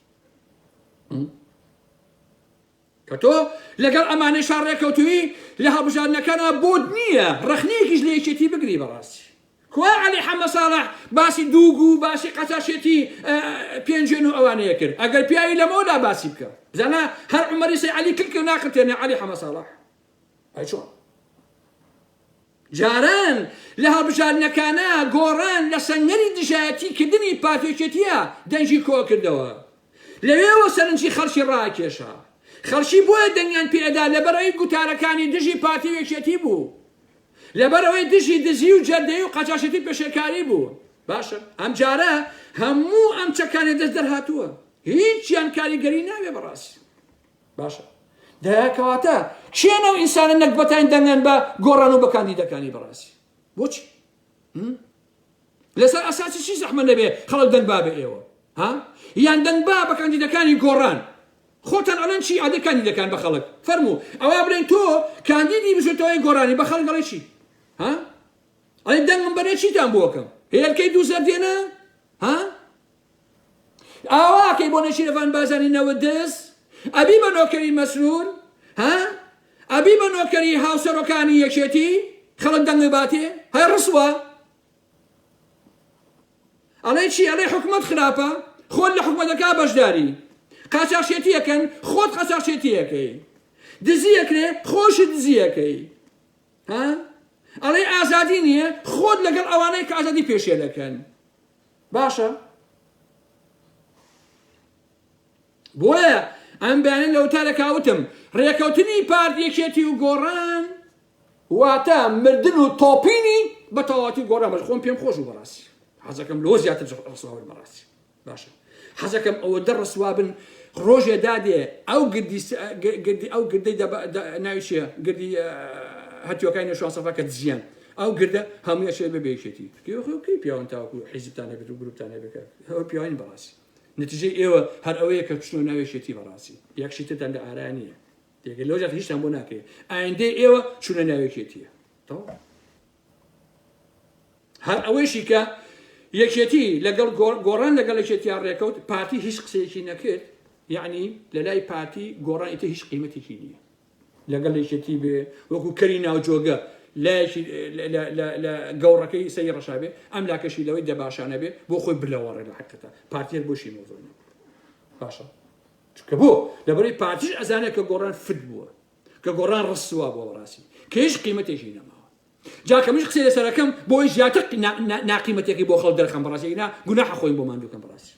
کە تۆ لەگەڵ ئەمانەیشا ڕێکەوتووی لە هەڵبژاردنەکانا بۆت نییە ڕەخنەیەکیش لە یەکێتی بگری بەڕاستی کوا علی حەمە ساڵح باسی دووگو و باسی قەچاشێتی پێنجێن و ئەوانەیە کرد ئەگەر پیاوی لەمەوەدا باسی بکە بزانە هەر عمەری سەی علی کلکە ناقرتێنێ علی حەمە ساڵح ئەی چۆن؟ جاران لە هەڵبژاردنەکانا گۆڕان لە سەنگەری دژایەتی کردنی پارتێکێتیە دەنگی کۆکردەوە لەوێوە سەرنجی خەڵکی ڕاکێشا خەڵکی بۆیە دەنگیان پێدا لەبەرەوەی گوتارەکانی دژی پارتی و یەکێتی بوو لەبەرەوەی دژی دزی و جەردەی و قەجاشەتی پێشێکاری بوو باشە ئەم جارە هەموو ئەم چەکانێ دەست دەرهاتووە هیچیان کاریگەری ناوێ بەڕاستی باشە دەیە کەواتە کێ نەو ئینسانە نەگبەتان دەنگن بە گۆڕان و بە کاندیدەکانی بەڕاستی بۆچی لەسەر ئەساسی چی زەحمە نەبێ خەڵک دەنگ بابە ئێوە ها یان دەنگ با بە کاندیدەکانی گۆڕان خۆتان ئەڵێن چی ئادە کاندیدەکان بە خەڵک فەرموو ئەوە بڵێن تۆ کاندیدی بژێتەوەی گۆرانی بە خەڵک ئەڵێ چی ها ئەڵێ دەنگم بەرێ چیتان بۆکەم هێلکەی دوو زەردێنە ها ئاوا ئەکەی بۆ نەشیرەڤان بازانی نەوت دز ئەبی بە نۆکەری مەسرور ها ئەبی بە نۆکەری هاوسەرۆکانی یەکێتی خەڵک دەنگی باتێ هەی ڕسوا ئەڵێ چی ئەڵێ حکومت خراپە خۆت لە حکومەتەکە بەشداری قاچاخچێتیەکەن خۆت قەچاخچێتیەکەی دزیەکرێ خۆش دزیەکەی ها ئەڵێ ئازادی نییە خۆت لەگەڵ ئەوانەی کە ئازادی پێشێلەکەن باشە بۆیە ئەم بەیانە لە وتارەکە وتم ڕێکەوتنی پارت یەکێتی و گۆڕان واتە مردن و تۆپینی بە تەواتی گۆڕان بەر خۆم پێم خۆش و بەڕاستی حەزەکەم لۆ زیاتر ڕسوابن بەڕاستی باشە حەزەکەم ئەوە دە ڕسوابن ڕۆژێ دادێ ئەو گردی ئەو گردەی ناوی چیە گردی هەتیوەکانی شواسەفەکە دزیان ئەو گردە هەمووی ئەچێت بەبێ یەکێتی تورکیە بەخۆ کەی پیاون تاوەکو حیزبتان هەبێت و گروپتان هەبێت کە ئەوە پیاوین بەڕاستی نتیجەی ئێوە هەر ئەوەیە کە چنەوە ناو یەکێتی بەڕاستی یەکشی ترتان لە ئارا نییە تێگە لەوجات هیچتان بۆ ناکرێت ئایندەی ئێوە چونە ناو یەکێتیە تەواو هەر ئەوەیشی کە یەکێتی لەگەڵ گۆڕان لەگەڵ یەکێتیان ڕێکەوت پارتی هیچ قسەیەکی نەکرد یعنی لە لای پارتی گۆڕان ئیتە هیچ قیمەتێکی نییە لەگەڵ یەکێتی بێ وەکو کەری ناوجۆگە لایەکی لە گەوڕەکەی سەری ڕەشابێ ئەم لاکەشی لەوەی دەباشانە بێ بۆ خۆی بلەوەڕێ لە حقەتە پارتیەر بۆشی مۆزۆنی باشە چکە بۆ لەبەری پارتیش ئەزانێت کە گۆڕان فت بووە کە گۆڕان ڕسوا بۆ ڕاستی کەش قیمەتێکی نەماوە جاکە منش قسەی لەسەرەکەم بۆی زیاتر ناقیمەتێکی بۆ خەڵ دەرخەم بەڕاستینا گوناح خۆی بۆ ماندووکەم بەڕاستی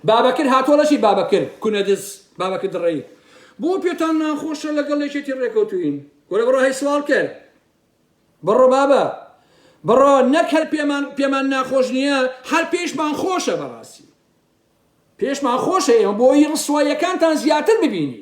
بابەکر هاتووە لەشی بابەکر کونە دز بابەکر دڕەی بۆ پێتان ناخۆشە لەگەڵ یەکێتی ڕێکەوتوین وەرە بڕۆ هەی سوال کرد بڕۆ بابە بڕۆ نەک هەر پێمان پێمان ناخۆش نییە هەر پێشمان خۆشە بەڕاستی پێشمان خۆشە ئێمە بۆی ڕسوایەکانتان زیاتر ببینی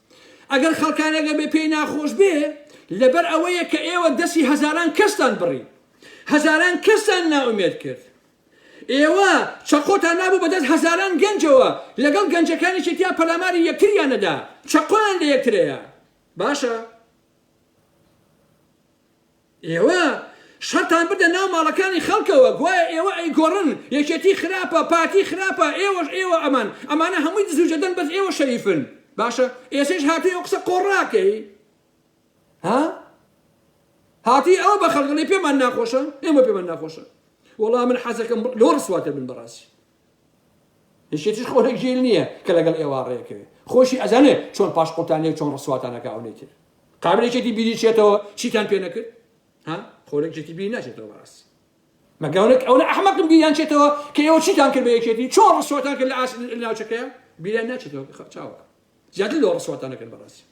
ئەگەر خەڵکانێک ئەبێ پێی ناخۆش بێ لەبەر ئەوەیە کە ئێوە دەستی هەزاران کەستان بڕی هەزاران کەستان نائومێد کرد ئێوە چەقۆتان نابوو بەدەست هەزاران گەنجەوە لەگەڵ گەنجەکانی چێتیا پەلاماری یەکتریانەدا چەقۆیان لە یەکترەیە باشە ئێوە شەرتان بردە ناو ماڵەکانی خەڵکەوە گوایە ئێوە ئەیگۆڕن، یەکێتی خراپە، پارتی خراپە، ئێوەش ئێوە ئەمان، ئەمانە هەمووی دز و جەردەن بەس ئێوە شەریفن، باشە ئێسەیش هاتووی ئەو قسە قۆڕاکەی ها؟ هاتووی ئەوە بە خەڵک ئەڵێی پێمان ناخۆشە، ئێمە پێمان ناخۆشە، وەڵا من حەزەکەم لەوە ڕسواتر بن بەڕاستی. یەکێتیش خۆ لە گێل نییە کە لەگەڵ ئێوە ڕێکەوێ خۆشی ئەزانێ چۆن پاش قوتان لێ چۆن ڕسواتانەکە ئەونەی تر قابلێکێتی بیری چێتەوە چیتان پێ نەکرد ها خۆرەکێتی بیر ناچێتەوە بەڕاستی مەگەونێک ئەوە ئەحمەقم بیریان چێتەوە کە ئێوە چیتان کرد بە یەکێتی چۆن ڕسواتان کرد لە ئاس ناوچەکەیان بیریان ناچێتەوە چاوەکە زیاتر لەوە ڕسواتان نەکەن بەڕاستی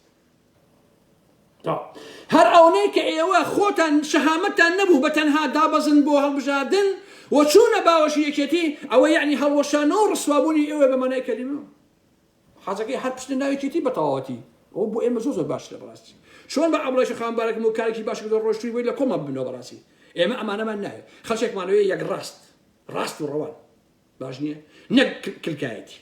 هەر ئەونەی کە ئێوە خۆتان شەهامەتان نەبوو بە تەنها دابەزن بۆ هەڵبژاردن و چوونە باوەشی یەکێتی ئەوە یعنی هەڵوەشانەوە و ڕسوابوونی ئێوە بە مانای کەلیمە حەزەکەی هەر پشتە ناوێکێتی بە تەواوەتی ئەو بۆ ئێمە زۆ زۆر باش لە بەڕاستی چۆن بە ئەمڵێش خانبارەکەم و کارێکی باش لە ڕۆشتوی بۆی لە کۆمە بنەوە بەڕاستی ئێمە ئەمانەمان ناوێت خەچێکمانەوەی یەک ڕاست ڕاست و ڕەوان باش نیە نەک کلکایەتی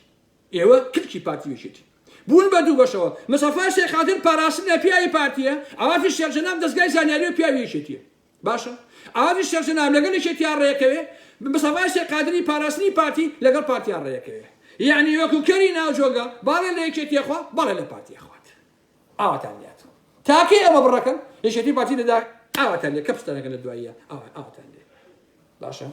ئێوە کلکی پارتی ویشێتی بوون بە دوو بەشەوە مسەفا شێخ خاتر پاراستنە پیاوی پارتیە ئاوافی شێخ جەناب دەستگای زانیاری و پیاوی یەکێتیە باشە ئاوافی شێخ جەناب لەگەڵ یەکێتیا ڕێکەوێ مسەفا شێخ قادری پاراستنی پارتی لەگەڵ پارتیا ڕێکەوێ یعنی وەکو کەری ناوجۆگە باڵێ لە یەکێتیە خوا باڵێ لە پارتیە خوات ئاواتان لات تاکەی ئەوە بڕەکەن یەکێتی پارتی دەدا ئاواتان لێ کەپستانەکە لە دواییە ئاواتان لێ باشە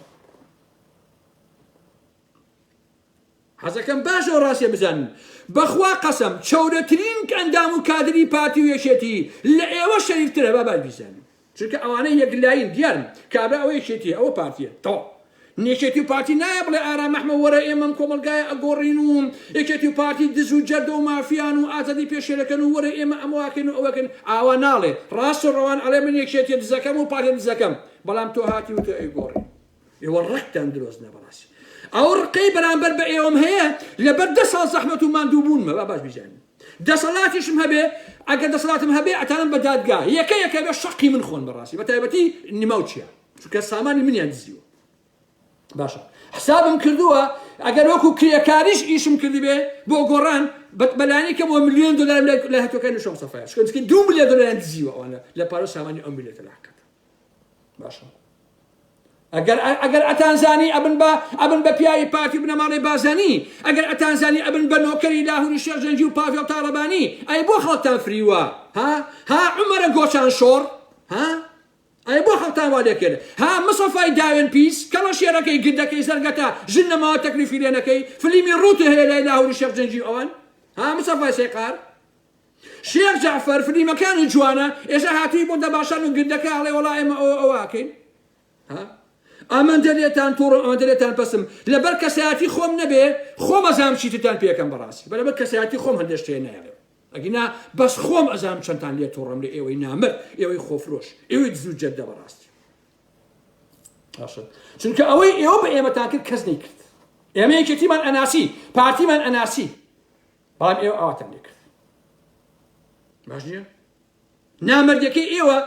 حەزەکەم باش ئەو ڕاستێ بزانن بەخوا قەسەم چەورەترین ئەندام و کادری پارتی و یەکێتی لە ئێوە شەریفترە با باش بیزانن چونکە ئەوانە یەکلاین دیارن کابرا ئەوە یەکێتی ئەوە پارتیە تەواو نێکێتی و پارتی نایە بڵێ ئارام ئەحمە وەرە ئێمەم کۆمەلگایە ئەگۆڕین و یەکێتی و پارتی دز و جەردە و مافیان و ئازادی پێشێلەکەن و وەرە ئێمە ئەمەواکەن و ئەوەکەن ئاوا ناڵێ ڕاست و ڕەوان ئەڵێ من یەکێتی دزەکەم و پارتی دزەکەم بەڵام تۆ هاتی وتۆ ئەیگۆڕی ئێوە ڕقتان درۆست نە بەڕاستی ئەو ڕقەی بەرامبەر بە ئێوەم هەیە لەبەر دە ساڵ زەحمەت و ماندوو بوونمە با باش بیزانین دەسەڵاتیشم هەبێ ئەگەر دەسەڵاتم هەبێ ئەتانم بە دادگا یەکە یەکە بە شەقی من خۆن بەڕاستی بە تایبەتی نماو چیە چونکە سامانی منیان دزیوە باشە حسابم کردووە ئەگەر وەکو کرێکاریش ئیشم کردبێ بۆ گۆڕان بەلانی کە بۆ میلیۆن دلار لە هەتەکە نشم سەفایا شکن دو میلیۆن دلار دزیوە ئەوانە لە پارە سامانی ئەم میلەتە لاکەتە باشە ئەگەر ئەگەر ئەتانزانی ئەبن بە ئەبن بە پیاوی پارتی بنەماڵی بازانی ئەگەر ئەتانزانی ئەبن بە نۆکەری لاهوری شێخ جەنگی و پاڤێڵ تاڵەبانی ئەی بۆ خەڵتان فریوە ها ها عمرە گۆچان شۆڕ ها ئەی بۆ خەڵتان وا دەکرد ها مسەفای داوێن پیس کەڵە شێرەکەی گردەکەی زەرگەتە ژن نەماوە تەکلیفی لێنەکەی فلیمی ڕووتێ هەیە لای لاهوری شێخ جەنگی ئەوان ها مسەفای سێقار شێخ جەعفەر فلیمەکانت جوانە ئێسا هاتوی بۆ دەباشان و گردەکە ئەڵێ وەڵا ئێمە ئەوە ئەوە ئەکەین ها ئەمەندە لێتان توڕم ئەمەندە لێتان پەسم لەبەر کەسایەتی خۆم نەبێ خۆم ئەزام چیتتان پێکەم بەڕاستی بەرەبەر کەسایەتی خۆم هەندێک شتێ نایڵێم ئەگینا بەس خۆم ئەزام چەندتان لێ توڕم لە ئێوەی نامر ئێوەی خۆفرۆش ئێوەی دزو جەدە بەڕاستی چونکە ئەوەی ئێوە بە ئێمەتان کرد کەس نەیکرد ئێمە یەکێتیمان ئەناسی پارتیمان ئەناسی بەڵام ئێوە ئاواتم لێ کرد باش نییە نامردەکەی ئێوە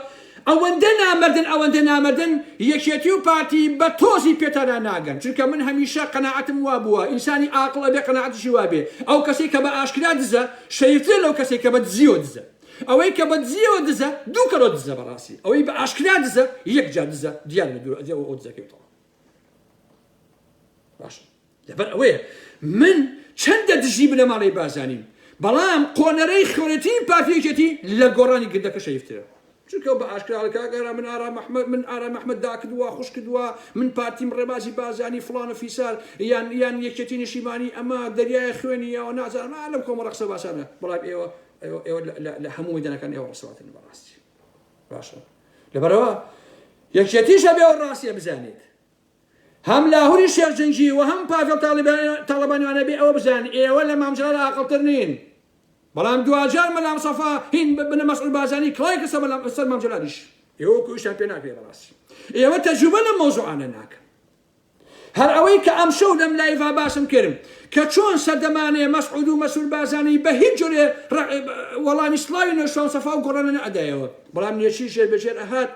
ئەوەندە نامردن ئەوەندە نامردن یەکێتی و پارتی بە تۆزی پێتانا ناگەن چونکە من هەمیشە قەنەعەتم وا بووە ئینسانی ئاقڵ ئەبێ قەنەعەتشی وابێ ئەو کەسی کە بە ئاشکرا دزە شەیترە لەو کەسی کە بە دزیەوە دزە ئەوەی کە بە دزیەوە دزە دوو کەەوە دزە بەڕاستی ئەوەی بە ئاشکرا دزە یەک جا دزە دیان دوور ئەدێ ئەو دزەکەوتەوە باش لەبەر ئەوەیە من چەندە دژی بنەماڵەی بارزانیم بەڵام قۆنەرەی خۆێتین پارتی یەکێتی لە گۆڕانی گردەکە شەیفترە چونکە بە ئاشکرا کاگەرا من ئارام محمد من ئارام محمد داکردووە خوش کردووە من پارتیم ڕێبازی بازانی فلان و فیسار یان یان یەکێتی نیشیمانی ئەمە دەریای خوێنی یاوە نازانم لەم کۆمەڵە قسە باسانە بەڵام ئێوە ئێوە لە هەموو مەدانەکان ئێوە ڕسەواتن بەڕاستی باشە لەبەرەوە یەکێتیشە بێ ڕاستیە بزانێت هەم لاهوری شێخ جنگی و هەم پاڤێڵ تاڵەبانیوانە بێ ئەوە بزانن ئێوە لە مام جەلال ئاقڵتر نین بەڵام دواجار مەلا مصطفی هین بنە مەسعود بازانی کڵای کە سەر مام جەلالیش ئێوە کویشتان پێ ناکرێ بەڕاستی ئێوە تەجوبە لە مەوزوعانە ناکەن هەر ئەوەی کە ئەم شەو لەم لایڤا باسم کرم کە چۆن سەردەمانێ مەسعود و مەسول بازانی بە هیچ جۆرێ وەڵامی سلاوی نۆشتوان سەفا و گۆڕانە نەئەدایەوە بەڵام نێچیر ژێر بەژێر ئەهات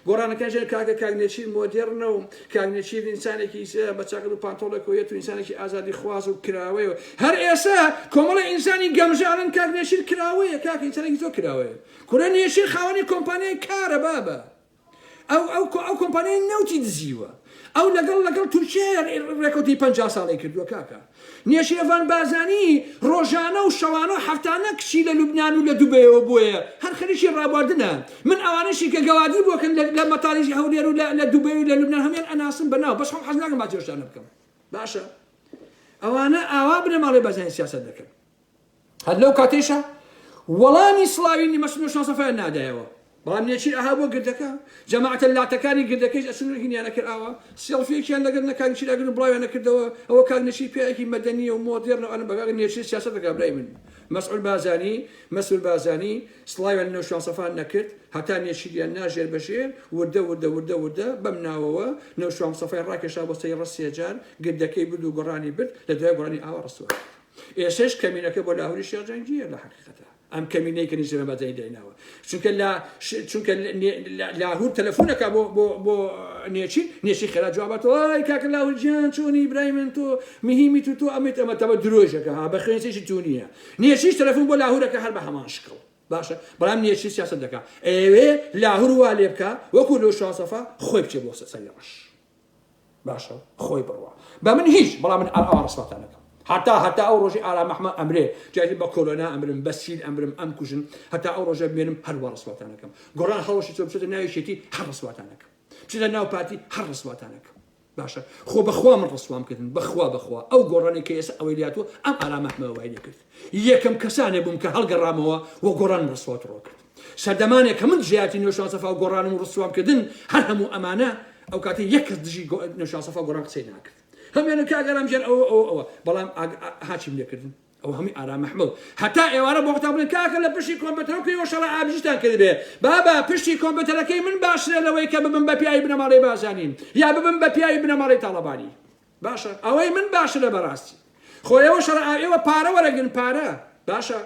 گۆرانەکە ژێر کاکە کاک نێچیر مۆدێڕنە و کاک نێچیر ئینسانێکی بە چاکەت و پانتۆڵێکەوە یەت و ئینسانێکی ئازادی خواز و کراوەیە و هەر ئێسە کۆمەڵێ ئینسانی گەمژە ئەڵێن کاک نێچیر کراوەیە کاکە ئینسانێکی زۆر کراوەیە کورە نێچیر خاوەنی کۆمپانیای کارە بابە ئەو ئەو ئەو کۆمپانیای نەوتی دزیوە ئەو لەگەڵ لەگەڵ تورکیایە ڕێکەوتی پەنجا ساڵەی کردووە کاکە نێشێڤان بارزانی ڕۆژانە و شەوانە و هەفتانە کچی لە لوبنان و لە دوبەیەوە بۆیە هەر خەریکی ڕابواردنە من ئەوانەشی کە گەوادی بۆ کەن لە مەتاری هەولێر و لە دوبەی و لە لوبنان هەموویان ئەناسم بە ناو بەس خۆم حەز ناکەم باسی ئەو شتانە بکەم باشە ئەوانە ئاوا بنەماڵەی بارزانی سیاسەت دەکەن. هەر لەو کاتەیشا وەڵامی سڵاوی نیمە سنوور شانسەفەیان نادایەوە. بەڵام نێچیر ئەها بۆ گردەکە، جەماعەتە لاتەکانی گردەکەیش ئەچوون و هینیان ئەکرد ئاوا، سێڵفییەکیان لەگەر نە کاک نێچیر ئەگرت و بڵاویان ئەکردەوە، ئەوە کاک نێچیر پیاوێکی مەدەنییە و مۆدێرنە و ئەنە بە کاک نێچیر سیاسەت دەکا برای من. مەسعود بارزانی، Mesut Barzani، سڵاویان لە نەوشانسەفان نەکرد، هەتا نێچیریان نا ژێر بە ژێر، وردە وردە وردە وردە، بەم ناوەوە، نەوشامسەفای ڕاکێشا بۆ سەری ڕەش سێجار، گردەکەی برد و گۆڕانی برد، لە دوای گۆڕانی ئاوا ڕسوا کرد. ئێستەش کەمینەکە بۆ لاهوری شێخ جەنگیە لە حقیقەتە ئەم کەمینەی کە نیزە بەدەی دەیناوە چونکە لە چونکە لاهور تەلەفۆنەکە بۆ بۆ بۆ نێچی نێچی خێرا جواباتەوە کاک لاهور جیان چۆنی برای من تۆ مهمی تو تۆ ئەمەیت ئەمە تەمە درۆژەکە ها بە خوێنسێکی تو نییە نێچیش تەلەفۆن بۆ لاهورەکە هەر بە هەمان شکڵ باشە بەڵام نێچی سیاست دەکە ئەوێ لاهور وا لێ بکە وەکو لۆ شاسەفا خۆی بچێ بۆ سەر ڕەش باشە خۆی بڕوا بە من هیچ بەڵام من ئاوا ڕسواتان نەکەم هەتا هەتا ئەو ڕۆژی ئارا مەحمە ئەمرێ جاری بە کۆرۆنا ئەمرم بە سیل ئەمرم ئەم کوژن هەتا ئەو ڕۆژە بمێنم هەروە ڕسواتان نەکەم گۆڕان هەڵەشی چۆ بچێتە ناویشێتی هەر ڕسواتان نەکەم بچێتە ناو پارتی هەر ڕسواتان نەکەم باشە خۆ بەخوا من ڕسوام کردن بەخوا بەخوا ئەو گۆڕانی کە ئێستا ئەوەی لاتوە ئەم ئارامەحمە وای لێ کرد یەکەم کەسانێ بووم کە هەڵگەڕامەوە وە گۆڕان ڕسوات ڕۆ کرد سەردەمانێک کە من دژەیارتی نوێشان سەفا و گۆڕانم و ڕسوام کردن هەر هەموو ئەمانە ئەو کاتە یەک کەس دژی نوێشان سەفا گۆڕان قسەی ناکرد هەمیانە کاگەرام ژێر ئەوە ئەوە ئەوە بەڵام هاچیم لێکردن ئەو هەمی ئارام محمل هەتا ئێوارە بۆ قوتابن کاکە لە پشتی کۆمپیوتەرەکەی وەشەڵە ئابژیتان کردبێ بابا پشتی کۆمپیوتەرەکەی من باشرە لەوەی کە ببم بە پیاوی بنەماڵەی بازانین یا ببم بە پیاوی بنەماڵەی تاڵەبانی باشە ئەوەی من باشرە بەڕاستی خۆ ئێوە شەڕ ئێوە پارە وەرەگرن پارە باشە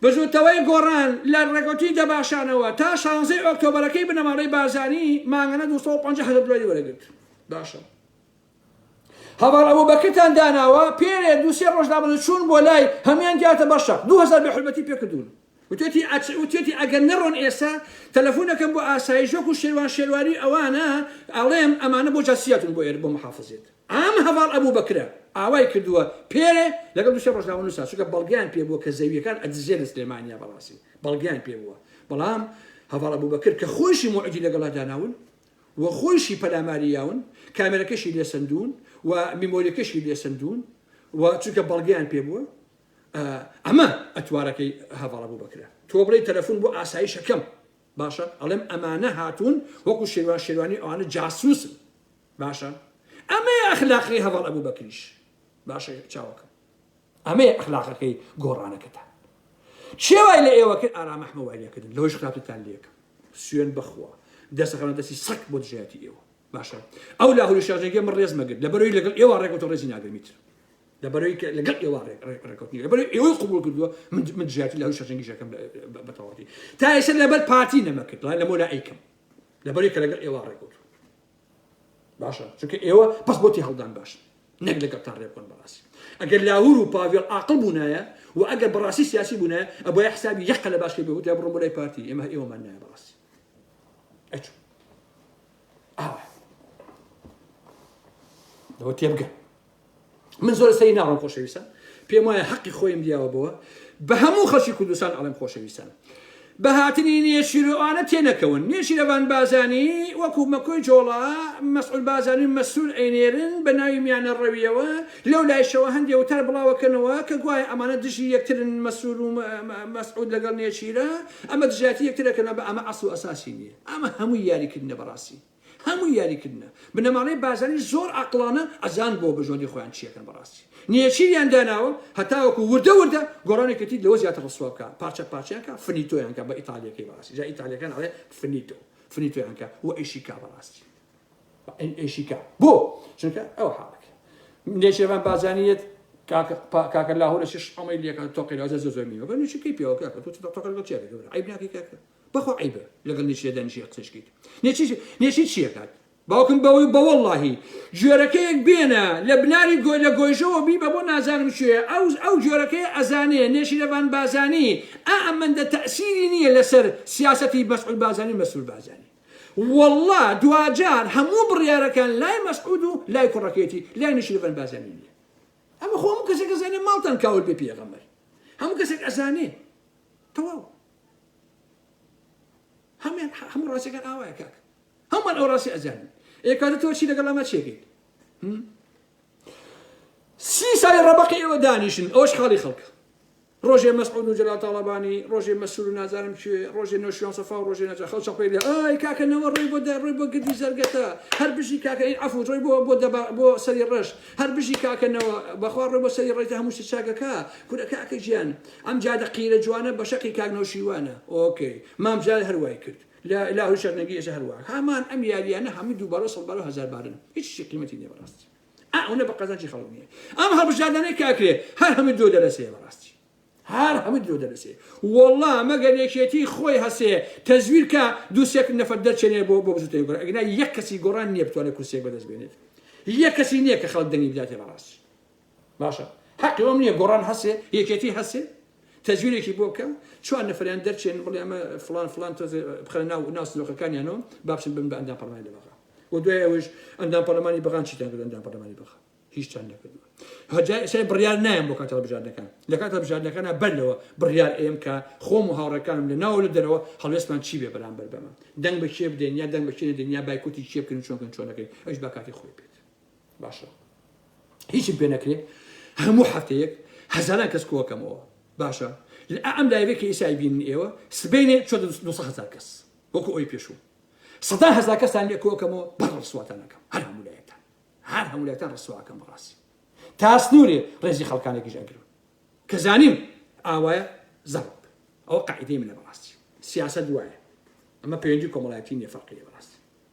بزوتەوەی گۆڕان لە ڕێکوتی دەباشانەوە تا شانزەی ئۆکتۆبرەکەی بنەماڵەی بازانی مانگەنە 250 هەزار دلاری وەرەگرت باشە هەواڵ ئەوە بەکرتان داناوە پێرێ دووسێ ڕۆژدا بە چوون بۆ لای هەمان دیاتە بەشە 2000 بە حرمەتی پێکردوون وتوێتی ئەچ وتوێتی ئەگەر نەڕۆن ئێستا تەلەفون ئەکەم بۆ ئاسایش وەکو شێروان شێروانی و ئەوانە ئەڵێم ئەمانە بۆ جاسی هاتون بۆ ئێرە بۆ محافزێت ئام هەڤاڵ ئەبو بەکرە ئاوای کردوە پێرێ لەگەڵ دوسێ ڕۆژنامە نوسا چونکە بەڵگەیان پێ بوە کە زەویەکان ئەدزێ لە سلێمانیا بەڕاستی بەڵگەیان پێ بوە بەڵام هەڤاڵ ئەبو بەکر کە خۆشی موعدی لەگەڵا داناون و خۆشی پەلاماری یاون کامێرەکەشی لێسەندون و میمۆریەکەشی لێسەندون و چونکە بەڵگەیان پێ بوە ئەمە ئەتوارەکەی هەڤاڵ ئەبو بەکرە تۆ بڵێی تەلەفون بۆ ئاسایشەکەم باشە ئەڵێم ئەمانە هاتون وەکو شێوان شێوانی ئەوانە جاسوسن باشە ئەمەیە ئەخلاقی هەڤاڵ ئەبو بەکریش باشە چاوەکەم ئەمەیە ئەخلاقەکەی گۆڕانەکەتان چێوای لە ئێوە کرد ئارا مەحمەوایەکردن لەوەش خراپتان لەکە سوێن بخوا دەسەخەنە دەستی سەک بۆ دژایەتی ئێوە باشە ئەو لاهوری شارژێگە من ڕێز مەگرت لە بەرەوەی لەگەڵ ئێوە ڕێکوتە ڕێزی ناگرمیتر لەبەرەوەی کە لەگەڵ ئێوە ڕێکەوت نیە لەبەر ئێوەی قوبول کردووە من زیاتر لە هەوی شەرجەنگیشەکەم بەتەواتی تا ئێستا لەبەر پارتی نەمەکرد لە مۆلا ئەیکەم لەبەرەوەی کە لەگەڵ ئێوە ڕێکەوت باشە چونکە ئێوە پس بۆتی هەڵدان باش نەک لەگەڵتان ڕێبکەن بەڕاستی ئەگەر لاهور و پاڤێڵ عقل بوونایە و ئەگەر بەڕاستی سیاسی بوونە ئەبە حسابی یەقە لە باشکە بێت لە بڕۆ لای پارتی ئێمە ئێوەمان نایە بەڕاستی ئەچوو ئەوە تێبگە من زۆر سەری ناڕۆم خۆشەویستان پێم وایە حەقی خۆیم دیاوە بەوە بە هەموو خەڵکی کوردستان ئەڵێم خۆشەویستان بە هاتنی نێچیرۆانە تێنەکەون نێچیرەوان بازانی وەکو مەکۆی جۆڵا مەسعول بازانی مەسرور ئەینێرن بە ناوی میانە ڕەویەوە لەو لایشەوە هەندێ وتار بڵاوەکەنەوە کە گوایە ئەمانە دژی یەکترن مەسرور و مەسعود لەگەڵ نێچیرە ئەمە دژاتی یەکترەکەنە بە ئەمە ئەسڵ ئەساسی نییە ئەمە هەموو یاریکردنە بەڕاستی هەمووی یاری کردنە بنەماڵەی بازانی زۆر ئاقڵانە ئەزان بۆ بژۆندی خۆیان چیەکەن بەڕاستی نێچیریان داناوە هەتاوەکو وردە وردە گۆڕانی کەتیت لەوە زیاتر ڕسوا بکە پارچە پارچەیان کە فنیتۆیان کە بە ئیتالیەکەی بەڕاستی جا ئیتالیەکان ئەڵێ فنیتۆ فنیتۆیان کە و ئیشیکا بەڕاستی ئیشیکا بۆ چونکە ئەو حاڵەکە نێچێران بازانیت کاکە لاهورە چش ئەمەی لەکە تۆقی لازە زۆ زۆر میوە بەنوچی کەی پێوەکە کە تۆ تۆقل گەڵ چێکە گەورە عیب ناکەی کاکە بەخوا عەیبە لەگەڵ نێچیرە دانیشی قسەش کەیت نێچیر نێچیر چی ئەکات باوکم بەوەی بەوەڵڵاهی گوێرەکەیەک بێنە لە بناری گۆی لە گۆیژەوە بیبە بۆ نازانم کوێ ئەو ئەو گوێرەکەی ئەزانێ نێچیرەڤان بازانی ئا ئەمەندە تەئسیری نییە لەسەر سیاسەتی مەسعود بازانی و مەسرور بازانی وەڵڵا دواجار هەموو بڕیارەکان لای مەسعود و لای کوڕەکەیەتی لای نێچیرەڤان بازانی نییە ئەمە خۆ هەموو کەسێک ئەزانێ ماڵتان کاول بێ پێغەمبەر هەموو کەسێک ئەزانێ تەواو هەمویان هەموو ڕاستەکان ئاوایە کاک هەمووان ئەو ڕاستی ئەزانن ئێ کاتە تۆ چی لەگەڵ ئەمە چێکیت سی ساڵی ڕەبەقی ئێوە دانیشن ئەوش خاڵی خەڵکە ڕۆژێ مەسعود و جەلال تاڵەبانی ڕۆژێ مەسول و نازانم کوێ ڕۆژێ نۆشیان سەفا و ڕۆژێ نەجا خەڵ چەپەی لە ئای کاکەنەوە ڕێ بۆ دەڕێ بۆ گردی زەرگەتە هەر بژی کاکەین عفو ڕێ بۆ بۆ دەبا بۆ سەری ڕەش هەر بژی کاکەنەوە بەخوا ڕێ بۆ سەری ڕێتە هەموو چاگەکە کورە کاکە گیان ئەم جادە قیرە جوانە بەشەقی کاک نەوشیروانە ئۆکەی مام جلال هەر وای کرد لە لاهوری شەرنگی ئێجا هەر وا هەمان ئەم یاریانە هەموی دووبارە و سەدبارە و هەزار بارن هیچ شتی قیمەتی نیە بەراستی ئا ئەونە بە قەزانجی خەڵک نیە ئەم هەڵبژاردانەی کاکرێ هەر هەموی درۆ دەرەسەیە بەراستی هەر هەموی درۆ دەرەسێ وەڵا مەگەر یەکێتی خۆی هەسێ تەزویر کا دوو سێک نەفەر دەرچێنێ بۆ بۆ بزوتەوەی گۆران ئەگینا یەک کەسی گۆڕان نیە بتوانێ کورسیەک بەدەست بێنێت یەک کەسی نیە کە خەڵک دەنگی بداتێ بەڕاستی باشە حەقی ئەوم نیە گۆڕان هەسێ یەکێتی هەسێ تەزویرێکی بۆ بکە چوار نەفریان دەرچێن بڵێ ئەمە فلان فلان تۆز بخەنە ناو ناو سندوقەکانیانەوە بابچن بن بە ئەندام پەرلەمانی لە بەغا و دوای ئەوش ئەندام پەرلەمانی بەغان چیتان کرد ئەندام پەرلەمانی بەغا هیچتان نەکردووە هەجای شای بڕیار نایم بۆ کاتە بژاردنەکان لە کاتە بژاردنەکانە بەر لەوە بڕیار ئێم کە خۆم و هاوڕەکانم لە ناو لە دەرەوە هەڵوێستمان چی بێ بەرامبەر بەمە دەنگ بە کێ بدەین یا دەنگ بە کێ دەین یا بایکوتی کێ بکەین چۆنکەن چۆنەکەین ئەوش با کاتی خۆی بێت باشە هیچم پێ نەکرێ هەموو هەفتەیەک هەزاران کەس کۆکەمەوە باشە لە ئەم لایەکە ئیسای بین ئێوە سبینێ چۆ هزار کەس وەکو ئەوی پێشوو سەدا هزار کەسان لێ کۆکەمەوە بەر ڕسواتانەکەم هەر هەموو لایەکان هەر هەموو لایەکان ڕسواکەم بەڕاستی تا سنوورێ ڕێزی خەڵکانێکیش ئەگرم کە زانیم ئاوایە زەڕب ئەوە قاعدەی منە بەڕاستی سیاست وایە ئەمە پەیوەندی کۆمەڵایەتی نیە فەرقی لێ بەڕاستی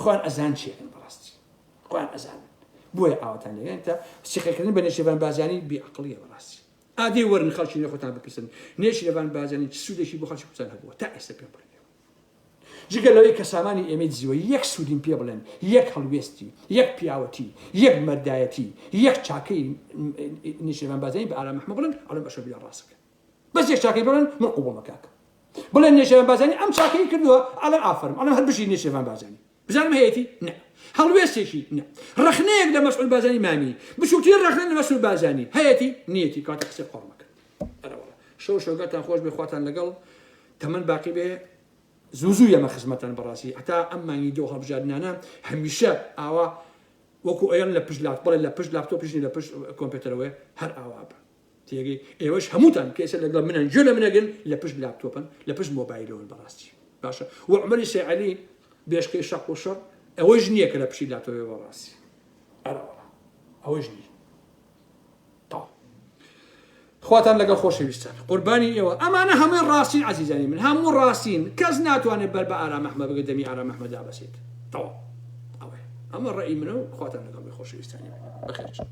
خوان ئەزان چی ئەکەن بەڕاستی خوان ئەزانن بۆیە ئاواتان لێگەن کە سیخەکردن بە نێشێبان بازانی بێعقلیە بەڕاستی ئادەی وەرن خەڵکی لە خۆتان بپرسن نێشێبان بازانی چ سوودێکی بۆ خەڵکی کوردستان هەبووە تا ئێستا پێ بڕێ جگە لەوەی کە سامانی ئێمەی دزیوە یەک سوودیم پێ بڵێن یەک هەڵوێستی یەک پیاوەتی یەک مەردایەتی یەک چاکەی نیشێبان بازانی بە ئارام محمە بڵن ئەڵم بەشە بیا ڕاستەکە بەس یەک چاکەی بڵێن من قبوڵە کاکە بڵێن نێچێرڤان بازانی ئەم چاکەی کردووە ئەڵێن ئافەرم ئەڵێن هەر بژی نێچێرڤان بازانی بزانم هەیەتی نە هەڵوێستێکی نە ڕەخنەیەک لە مەسعود بازانی مامی بچووترین ڕەخنە لە مەسعود بازانی هەیەتی نیەتی کاتە قسەی قۆڕ مەکەن ئەرەوەڵا شەو شەوگاتان خۆش بێ خواتان لەگەڵ تەمەن باقی بێ زوو زوو یەمە خزمەتان بەڕاستی هەتا ئەم مانگی دۆ هەڵبژاردنانە هەمیشە ئاوا وەکو ئەیان لە پشت لاپتۆپ بڵێ لە پشت لاپتۆپ پیشنی لە پشت کۆمپیوتەرەوەی هەر ئاوا بە تێگەی ئێوەش هەمووتان کێسە لەگەڵ منن گوێ لە منەگرن لە پشت لاپتۆپن لە پشت مۆبایلەوەن بەڕاستی باشە و عمەری سەعەلی بێشکەی شەق و شەڕ ئەوەش نییە کە لە پشی لاتۆێ بەڕاستی ئەوەش نییە خواتان لەگە خۆشەویستان قوربانی ئێوە ئەمانە هەمووی ڕاستین عزیزانی من هەموو ڕاستین کەس ناتوانێت بەر بە ئارامەحمە بگە دەمی ئارامەحمەدا بەسێت تەوا ئەوە ئەمە ڕێی منە و خواتان لەگەڵ خۆشەویستانی بەخێرچن